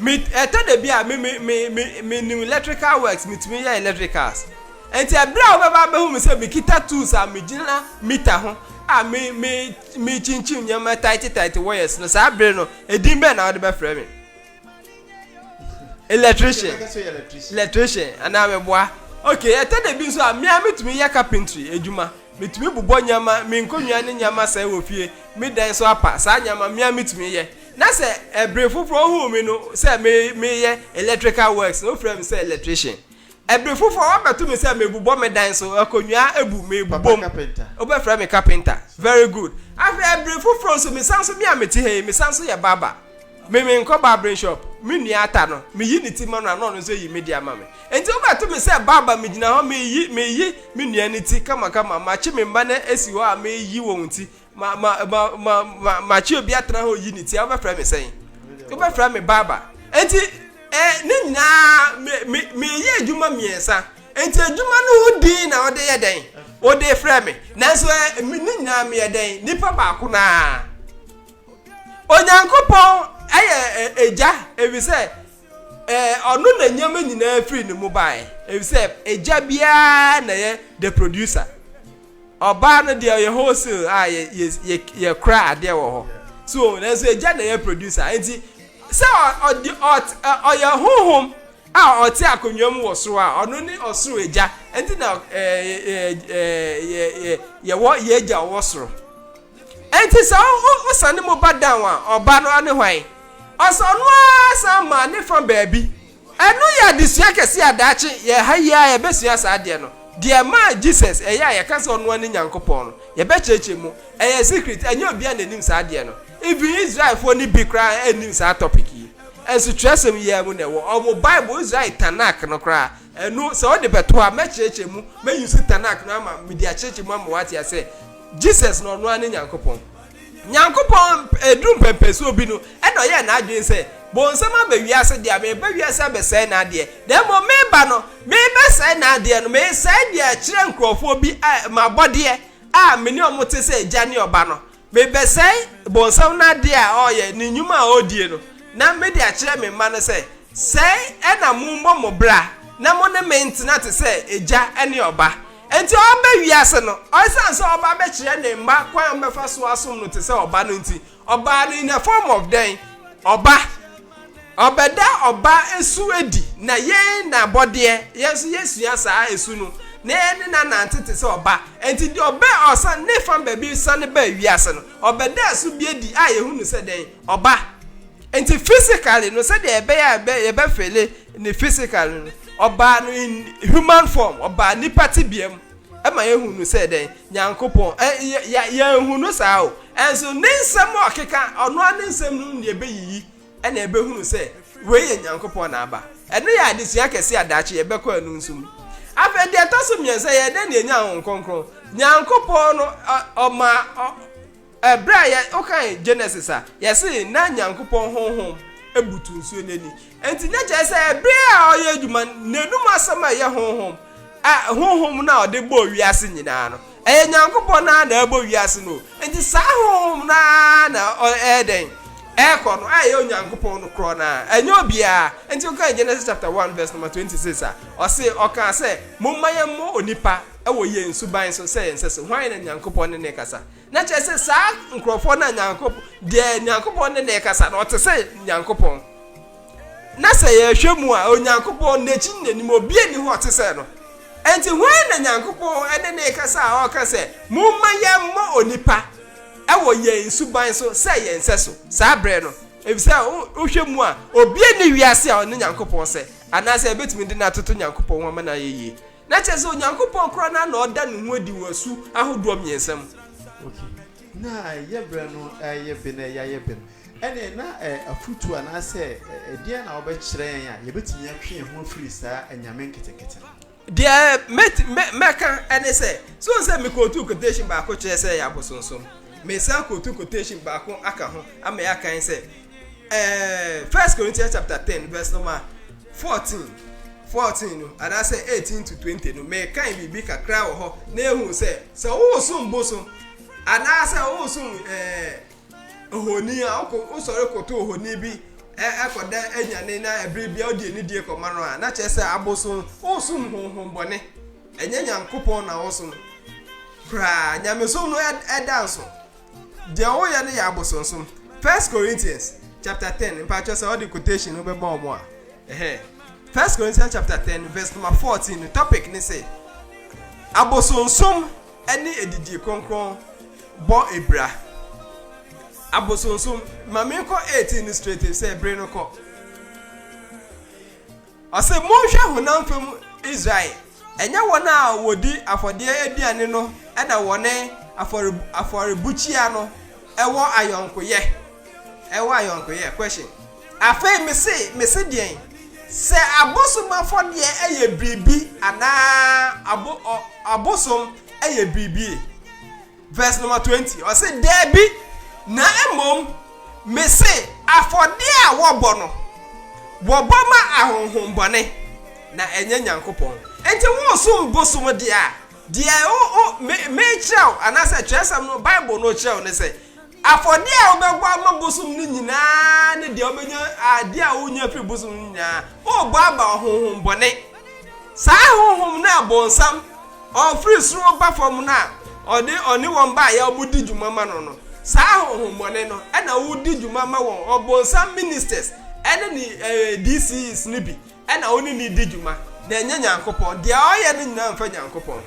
S3: Me ɛtɔ da bi a me me me me me nim electrical works me tumi yɛ electricals nti ɛbrɛ a wobɛba abɛhu me sɛ me kita tools a me gyina mita ho a me me me kyinkyim nneɛma taiti taiti wires no saa bere no edin bɛn na wɔde bɛfrɛ me electrician electrician anaa me boa okay ɛtɔ da bi nso a me a me tumi yɛ carpentry adwuma me tumi bobɔ nneɛma me nkonnwa ne nneɛma sɛɛ wɔ fie me dan so apa saa nneɛma me a me tumi yɛ. Na sɛ bere foforo ohuu me no sɛ mereyɛ electrical works no, ofrɛɛ me sɛ electrician. Bere foforo wabɛto me sɛ merebobɔ me dan so, akonnwa abu, merebobom, wobɛfrɛ me carpenter. Very good. Afei bere foforo nso, mesan nso, me a mete ha yi, mesan nso yɛ barber. Me, menkɔ barbering shop. Me nua ata no, meyi ne ti ma no a, na ɔno nso ayi me de ama me. Enti wobɛto me sɛ barber, megyina hɔ, mereyi, mereyi me nua no ti kamakama, makye me mma no asi hɔ a mereyi wɔn ti, Ma ma ma ma ma ma kyi obi atena hɔ yi ne ti a wobɛfrɛ me sɛn? Wobɛfrɛ me baaba. Enti eh, ne nyinaa me me meyɛ adwuma mmiɛnsa. Enti adwuma no ho din na wode yɛ dɛn? Wode frɛ me. Nanso eh, me ne nyinaa meyɛ dɛn? Nipa baako naa. Onyankopɔn ɛyɛ ɛgya efisɛ ɛɛ ɔno na nneɛma nyinaa firi ne mu baeɛ efisɛ agya biara na yɛ the producer ɔbaa no deɛ ɔyɛ wholesale a yɛ yɛ yɛ yɛkora adeɛ wɔ hɔ so nanso agya na yɛ producer nti sɛ ɔde ɔt ɔyɛ honhom a ɔte akonnwa mu wɔ soro a ɔno ne ɔsoro agya nti na ɛɛ ɛɛ ɛɛ yɛwɔ yɛ agya ɔwɔ soro. Enti sɛ ɔsane mu ba down a, ɔba no ara ne hwan? Ɔsɛ ɔno ara san maa ne fa baabi. Ɛno yɛ adesua kɛseɛ a daakye yɛn ha yi ara yɛbɛsua saa adeɛ no. Deɛ ɛmaa Jesus ɛyɛ a yɛka sɛ ɔno ara ne Nyankopɔn no, yɛbɛkyerɛkyerɛ mu. Ɛyɛ secret, ɛnyɛ obiara na ɛnim saa adeɛ no. Even Israelfoɔ no bi koraa nnim saa topic yi. Nso twerɛsɛm yi ara mu na ɛwɔ. Wɔn Bible, Israel Tanakh no koraa, ɛno sɛ wode bɛto ha, mɛkyerɛkyerɛ mu, mɛuse Tanakh no ama, mede akyerɛkyerɛ mu ama woate aseɛ. Jesus na ɔno ara ne Nyankopɔn. Nyankopɔn mp eduru mpɛmpɛnsoɔ bi no, ɛna ɔyɛɛ n'adwene sɛ, Bonsam aba wiase deɛ a, mereba wiase abɛsɛe n'adeɛ. Na mmom mereba no, merebɛsɛe n'adeɛ no, meresɛe deɛ ɛkyerɛ nkurɔfoɔ bi a, m'abɔdeɛ a me ne wɔn te sɛ Agya ne Ɔba no. Merebɛsɛe Bonsam n'adeɛ a ɔreyɛ, ne nnwuma a ɔredie no, na mede akyerɛ me mma no sɛ, Sɛɛ na mommɔ mo bra, na mo ne me ntena te sɛ Agya ne Ɔba. Enti ɔreba wiase no, esiane sɛ ɔreba abɛkyerɛ ne mma kwan a wɔbɛfa so asom no te sɛ ɔba no nti, ɔbaa no in a form of dɛn? Ɔba. Ɔbɛda ɔba su adi, na yɛn na abɔdeɛ, yɛn nso yɛsua saa su no, na yɛne no anante te sɛ ɔba. Enti deɛ ɔbɛ ɔsan, ne fam baabi sane baa wiase no, ɔbɛdaa su bi adi a yɛhu no sɛ dɛn? Ɔba. Enti physically no, sɛdeɛ ɛbɛyɛ a yɛbɛfeele Ne physical no no, ɔbaa no in human form, ɔbaa nipa tebea mu ma yɛhu no sɛ dɛn? Nyankopɔn. Ɛ, yɛ, yɛ, yɛnhu no saa o. Ɛnso ne nsɛm a ɔkeka, ɔno ara ne nsɛm no na yɛbɛyiyi na yɛbɛhunu sɛ wei yɛ Nyankopɔn na aba. Ɛno yɛ adesua kɛse a daakye yɛbɛkɔ ɛno nso mu. Afei deɛ ɛtɔ so mmiɛnsa, yɛyɛ dɛn na yɛnya Honhom Kronkron? Nyankopɔn no, ɔ, ɔmaa, ɔ, Bere a yɛ wokan Genesis a, yɛse na Nyankopɔn honhom butu nsuo no ani. Enti na kyerɛ sɛ bere a ɔyɛ adwuma no, n'anom asɛm a ɛyɛ honhom, a honhom no a ɔde bɔɔ wiase nyinaa no, ɛyɛ Nyankopɔn no ara na ɛrebɔ wiase no o. Enti saa honhom no ara na ɛyɛ dɛn? Ɛrekɔ no, a ɛyɛ Onyankopɔn no korɔ no ara, ɛnyɛ obiara. Enti wokan Genesis chapter one verse number 26 a, ɔse, ɔkaa sɛ, Momma yɛmmɔ onipa wɔ yɛn suban so sɛ yɛn sɛso. Hwan na Nyankopɔn ne no rekasa? Na kyerɛ sɛ, saa nkorɔfoɔ no a Nyankopɔn, deɛ Nyankopɔn ne no rekasa no, ɔte sɛ Nyankopɔn. Na sɛ yɛhwɛ mu a, Onyankopɔn, N'akyi ne N'anim, obiara nni hɔ a ɔte sɛ no. Enti hwan na Nyankopɔn ne no rekasa a ɔreka sɛ, Momma yɛmmɔ onipa wɔ yɛn suban so sɛ yɛn sɛso, saa berɛ no? Efisɛ wohwɛ mu a, obiara nni wiase a ɔne Nyankopɔn sɛ, anaasɛ yɛbɛtumi de no atoto Nyankopɔn ho ama no ayɛ yie. Na kyerɛ sɛ, Onyankopɔn koraa no ara na ɔda ne ho adi wɔ su ahodoɔ mmiɛnsa mu. Ok,
S1: na yɛ berɛ no reyɛ be na yɛayɛ be no, ɛnneɛ na afotuo anaasɛ ɛdeɛn na wobɛkyerɛ yɛn a yɛbɛtumi atwe yɛn ho afiri saa anyame nketenkete no ho? Deɛ
S3: mɛti mɛ mɛka ɛne sɛ, so wohu sɛ mekootu quotation baako kyerɛɛ sɛ ɛyɛ abosonsom, meresan akootu quotation baako aka ho ama yɛakan sɛ, ɛɛ first corinthians chapter ten verse number fourteen fourteen no anaasɛ eighteen to twenty no mɛkan biribi kakra wɔ hɔ na ehu sɛ sɛ wosom bosom anaasɛ wosom ɛɛ ohoni a wokɔ wosɔre koto ohoni bi ɛkɔda e, e, anyane na ɛbere bi a wodi ne die kɔma no a na kyerɛ sɛ abosom wosom honhom bɔne ɛnyɛ nyankopɔn na wosom koraa nyamesom no ɛda nso. Deɛ wo yɛ no yɛ abosonsom. First Corinthians chapter ten mpakyɛ sɛ ɔde quotation no bɛbɔ ɔmo a ɛhɛ First Corinthians chapter ten verse number fourteen no topic ne sɛ abosonsom ɛne adidie kronkron bɔ abira abosonsom ma menkɔ eighteen no straight sɛ bere no kɔ. Ɔse, Monhwɛ honam fam Israel, ɛnyɛ wɔn a wɔdi afɔdeɛ aduane no na wɔne afɔrebukyia no wɔ ayɔnkoyɛ, ɛwɔ ayɔnkoyɛ, Question, Afei mese, mese deɛn? Sɛ abosom afɔdeɛ yɛ biribi anaa abo, ɔ, abosom yɛ biribi? Verse number twenty, ɔse, Daabi, na mmom mese afɔdeɛ a wɔbɔ no, wɔbɔ ma ahonhommɔne, na ɛnyɛ Nyankopɔn. Enti wosom bosom deɛ a, deɛ o, o, me, mekyerɛ wo, anaasɛ twerɛsɛm no, Bible no kyerɛ wo ne sɛ, Afɔdeɛ a wobɛbɔ ama bosom no nyinaa ne deɛ wobɛnya, adeɛ a wonya firi bosom no nyinaa, worebɔ ama ɔhonhommɔne. Saa ahonhom no a bonsam, ɔfiri soro ba fam no a ɔde ɔne wɔn baeɛ a wɔdi dwuma ma no no, saa ahonhommɔne no na wodi dwuma ma wɔn, ɔbonsam ministers ne ne DCEs no bi na wo ne no di dwuma, na ɛnyɛ Nyankopɔn. Deɛ ɔyɛ no nyinaa mfa Nyankopɔn ho.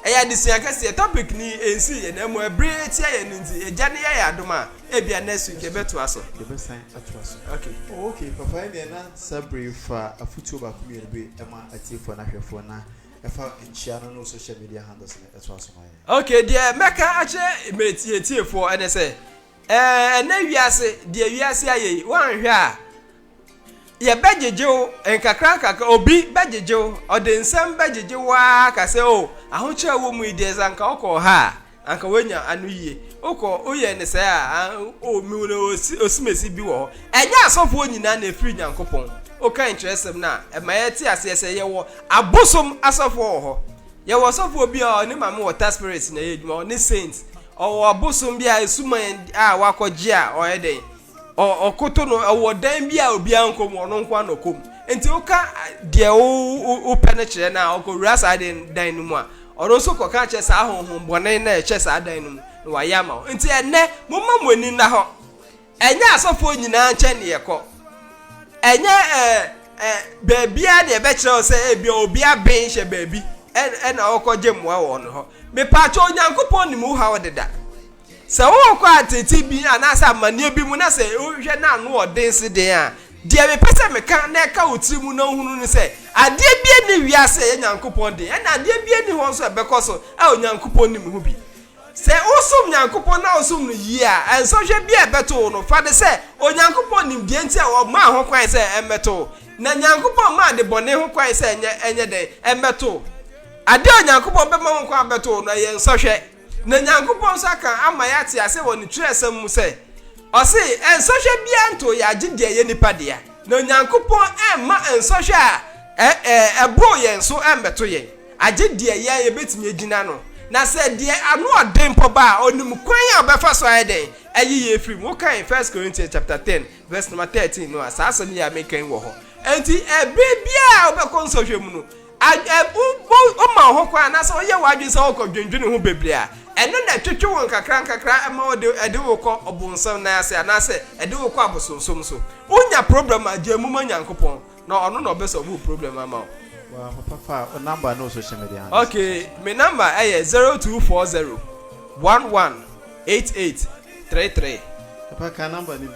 S3: Ɛyɛ adesua kɛseɛ. Topic no ɛnsii yɛn amu, ɛbere ɛtia yɛn no nti, Agya no yɛ yɛn adom a, ebia next week yɛbɛtoa so. Yɛbɛsan atoa
S1: so. Ok. Oh ok,
S3: papa ɛneɛ
S1: na saa bere yi fa afotuo baako mmienu bi ma atiefoɔ no ahwɛfoɔ na ɛfa nkyia no ne wo social media handles no ɛtoa so ma yɛn. Ok, deɛ mɛka
S3: akyerɛ m'atiefoɔ ɛne sɛ, ɛɛ ɛnɛ wiase, deɛ wiase ayɛ yi, woanhwɛ a, Yɛbɛgyegye wo nkakrankakra, obi bɛgyegye wo, ɔde nsɛm bɛgyegye wo ara aka sɛ, o, ahokyerɛ a ɛwɔ mu yi deɛ, sɛ anka wokɔɔ ha a, anka woanya ano yie. Wokɔ, woyɛɛ no sɛɛ a, a, o, mehu no osi, osimesi bi wɔ hɔ. Ɛnyɛ asɔfoɔ nyinaa na ɛfiri Nyankopɔn. Wokan twerɛsɛm no a, ɛma yɛte aseɛ sɛ yɛwɔ abosom asɔfoɔ wɔ hɔ. Yɛwɔ ɔsɔfoɔ bi a ɔne Maame Water Spirits na ɛyɛ adwuma, ɔne Saints. Ɔwɔ abosom bi a, ɛsuman a wakɔgye a ɔyɛ dɛn? ɔkoto no wɔ dan bi a obiara nkɔ mu, ɔno nko ara na ɔkɔ mu. Nti woka deɛ wopɛ no kyerɛ no a, ɔkɔwura saa dan no mu a, ɔno nso kɔka kyerɛ saa honhom bɔne no a ɛhyɛ saa dan no mu na wayɛ ama wo. Nti ɛnnɛ, momma mo ani nna hɔ. Ɛnyɛ asɔfoɔ nyinaa nkyɛn na yɛkɔ. Ɛnyɛ ɛɛ ɛɛ baabiara na yɛbɛkyerɛ wo sɛ ebi obi aben hyɛ baabi ɛna ɔkɔgye mmoa wɔ ɔno hɔ. Mepaakyɛ Onyankopɔn nim wo haw deda. Sɛ worekɔ ateetee bi anaasɛ amanneɛ bi mu na sɛ wohwɛ na ano wɔ den se dɛn a, deɛ mepɛ sɛ meka na ɛka wo tiri mu na wohunu ne sɛ, adeɛ biara nni wiase a ɛyɛ Nyankopɔn de, ɛna adeɛ biara nni hɔ nso a ɛbɛkɔ so a Onyankopɔn nnim ho bi. Sɛ wosom Nyankopɔn na wosom no yie a, nsɔhwɛ biara a ɛbɛto wo no, fa no sɛ Onyankopɔn nim deɛ nti a ɔmaa ho kwan sɛ ɛmmɛto wo. Na Nyankopɔn mmaa adebɔne ho kwan sɛ ɛnyɛ ɛnyɛ dɛn? Ɛmmɛto wo. Adeɛ a Onyankopɔn bɛma ho kwan abɛto wo no, ɛyɛ nsɔhwɛ. Na Nyankopɔn nso aka ama yɛate ase wɔ Ne Twerɛsɛm mu sɛ, Ɔse, Nsɔhwɛ biara ntoo yɛn agye deɛ ɛyɛ nnipa dea, na Onyankopɔn amma nsɔhwɛ a ɛboro yɛn so ammɛto yɛn, agye deɛ yɛn yɛbɛtumi agyina ano. Na sɛ deɛ ano ɔden mpo ba a, Ɔnim kwan a ɔbɛfa so ayɛ dɛn? Ayi yɛn afiri mu. Wokan First Corinthians chapter ten verse number thirteen no a, saa asɛm yi a meka yi wɔ hɔ. Enti ɛberɛ biara a wobɛkɔ nsɔhwɛ mu no, Woma wo ho kwan anaasɛ woyɛ w'adwene sɛ worekɔdwendwene ho bebree a, ɛno na ɛtwetwe wo nkakrankakra ma ɛde wo kɔ ɔbonsam nan ase anaasɛ ɛde wo kɔ abosonsom so. Wonya problem a, gyae mu ma Nyankopɔn, na Ɔno na Ɔbɛ solve wo problem ama wo. Waa ho
S1: papa a, wo number no so hyɛ me den ase. Okay, me number
S3: ɛyɛ zero two four zero one one eight eight three three. Papa ka
S1: number no bio.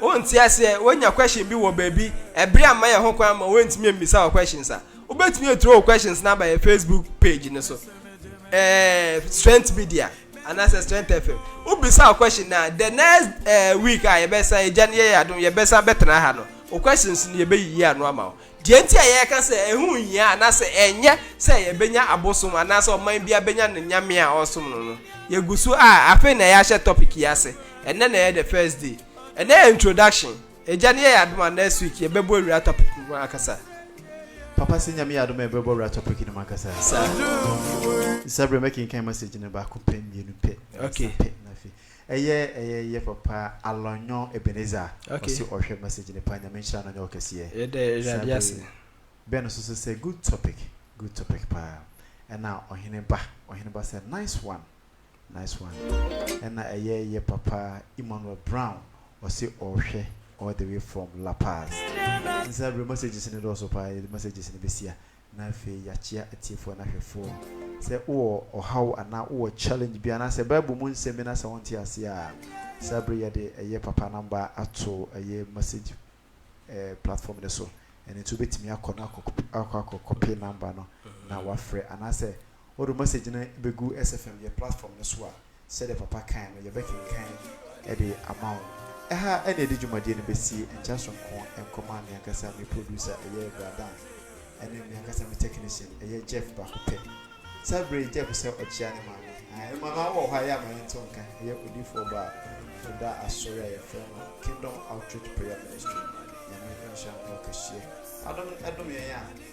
S3: Wonte aseɛ, woanya question bi wɔ baabi, ɛbere amma yɛn ho kwan ma woantumi ammisa wo questions a, wobɛtumi aturo wo questions no aba yɛn Facebook page no so, ɛɛɛ Strength Media anaasɛ Strength FM. Wobisa wo question no a, the next ɛɛɛ week a yɛbɛsan, Agya no yɛ yɛn adom, yɛbɛsan bɛtena ha no, wo questions no yɛbɛyiyi ano ama wo. Deɛ enti a yɛka sɛ ɛho nhia anaasɛ ɛnyɛ sɛ yɛbɛnya abosom anaasɛ ɔman biara bɛnya ne nyame a ɔresom no no, yɛgu so a, afei na yɛahyɛ topic yi ase, ɛnnɛ na ɛyɛ the first day. Ɛnnɛ yɛ introduction, Agya no yɛ yɛn adom a next week yɛbɛbɔ awura topic no mu ankasa. Papa,
S1: sɛ Nyame yɛ adom a yɛbɛbɔ awura topic no mu ankasa. Saa. Saa berɛ yi mɛkenkan message no baako pɛ, mmienu pɛ, mmiɛnsa pɛ, na afei.
S3: Ɛyɛ
S1: ɛyɛ yɛ papa alɔnyɔ Ebenezer Ok. ɔse ɔhwɛ message no paa Nyame nhyira no ɔnyɛ wo kɛseɛ Yɛda saa Awurade bere
S3: ase. yi Ben nso so
S1: sɛ good topic good topic paa Ɛna ɔhene ba ɔhene ba sɛ nice one nice one Ɛna ɛyɛ yɛ papa Emmanuel Brown ɔse ɔhwɛ all the way from La Paz Nsa bere messages no dɔɔso paa yɛde messages no bɛsi a Na afei yɛakyea atiefoɔ no ahwɛfoɔ. Sɛ wowɔ ɔhaw anaa wowɔ challenge bi anaasɛ Bible mu nsɛm bi no asɛ wonte aseɛ a, saa berɛ yi yɛde ɛyɛ papa number ato ɛyɛ message platform no so. Ɛno nti wobɛtumi akɔ na akɔ akɔ copy number no na wafrɛ anaasɛ Wɔde wo message no bɛgu SFM yɛ platform no so a, sɛdeɛ papa kae no, yɛbɛkenkan de ama wo. Ɛha na yɛde dwumadie no bɛsi, nkyɛ sonko nkɔma me ankasa me producer, ɛyɛ Bra Dan, ne me ankasa me technician, ɛyɛ Jeff baako pɛ. Saa berɛ yi, Jeff sɛ ɔkyea ne maame. Ae, me maame wɔ hɔ a, ɛyɛ a ma yɛnte wo nka. Ɛyɛ odiyifoɔ ba a ɔda asɔre a yɛfrɛ no Kingdom Outreach Prayer Ministry no. Nyame nhyira no kɛseɛ. Adom dom yɛn a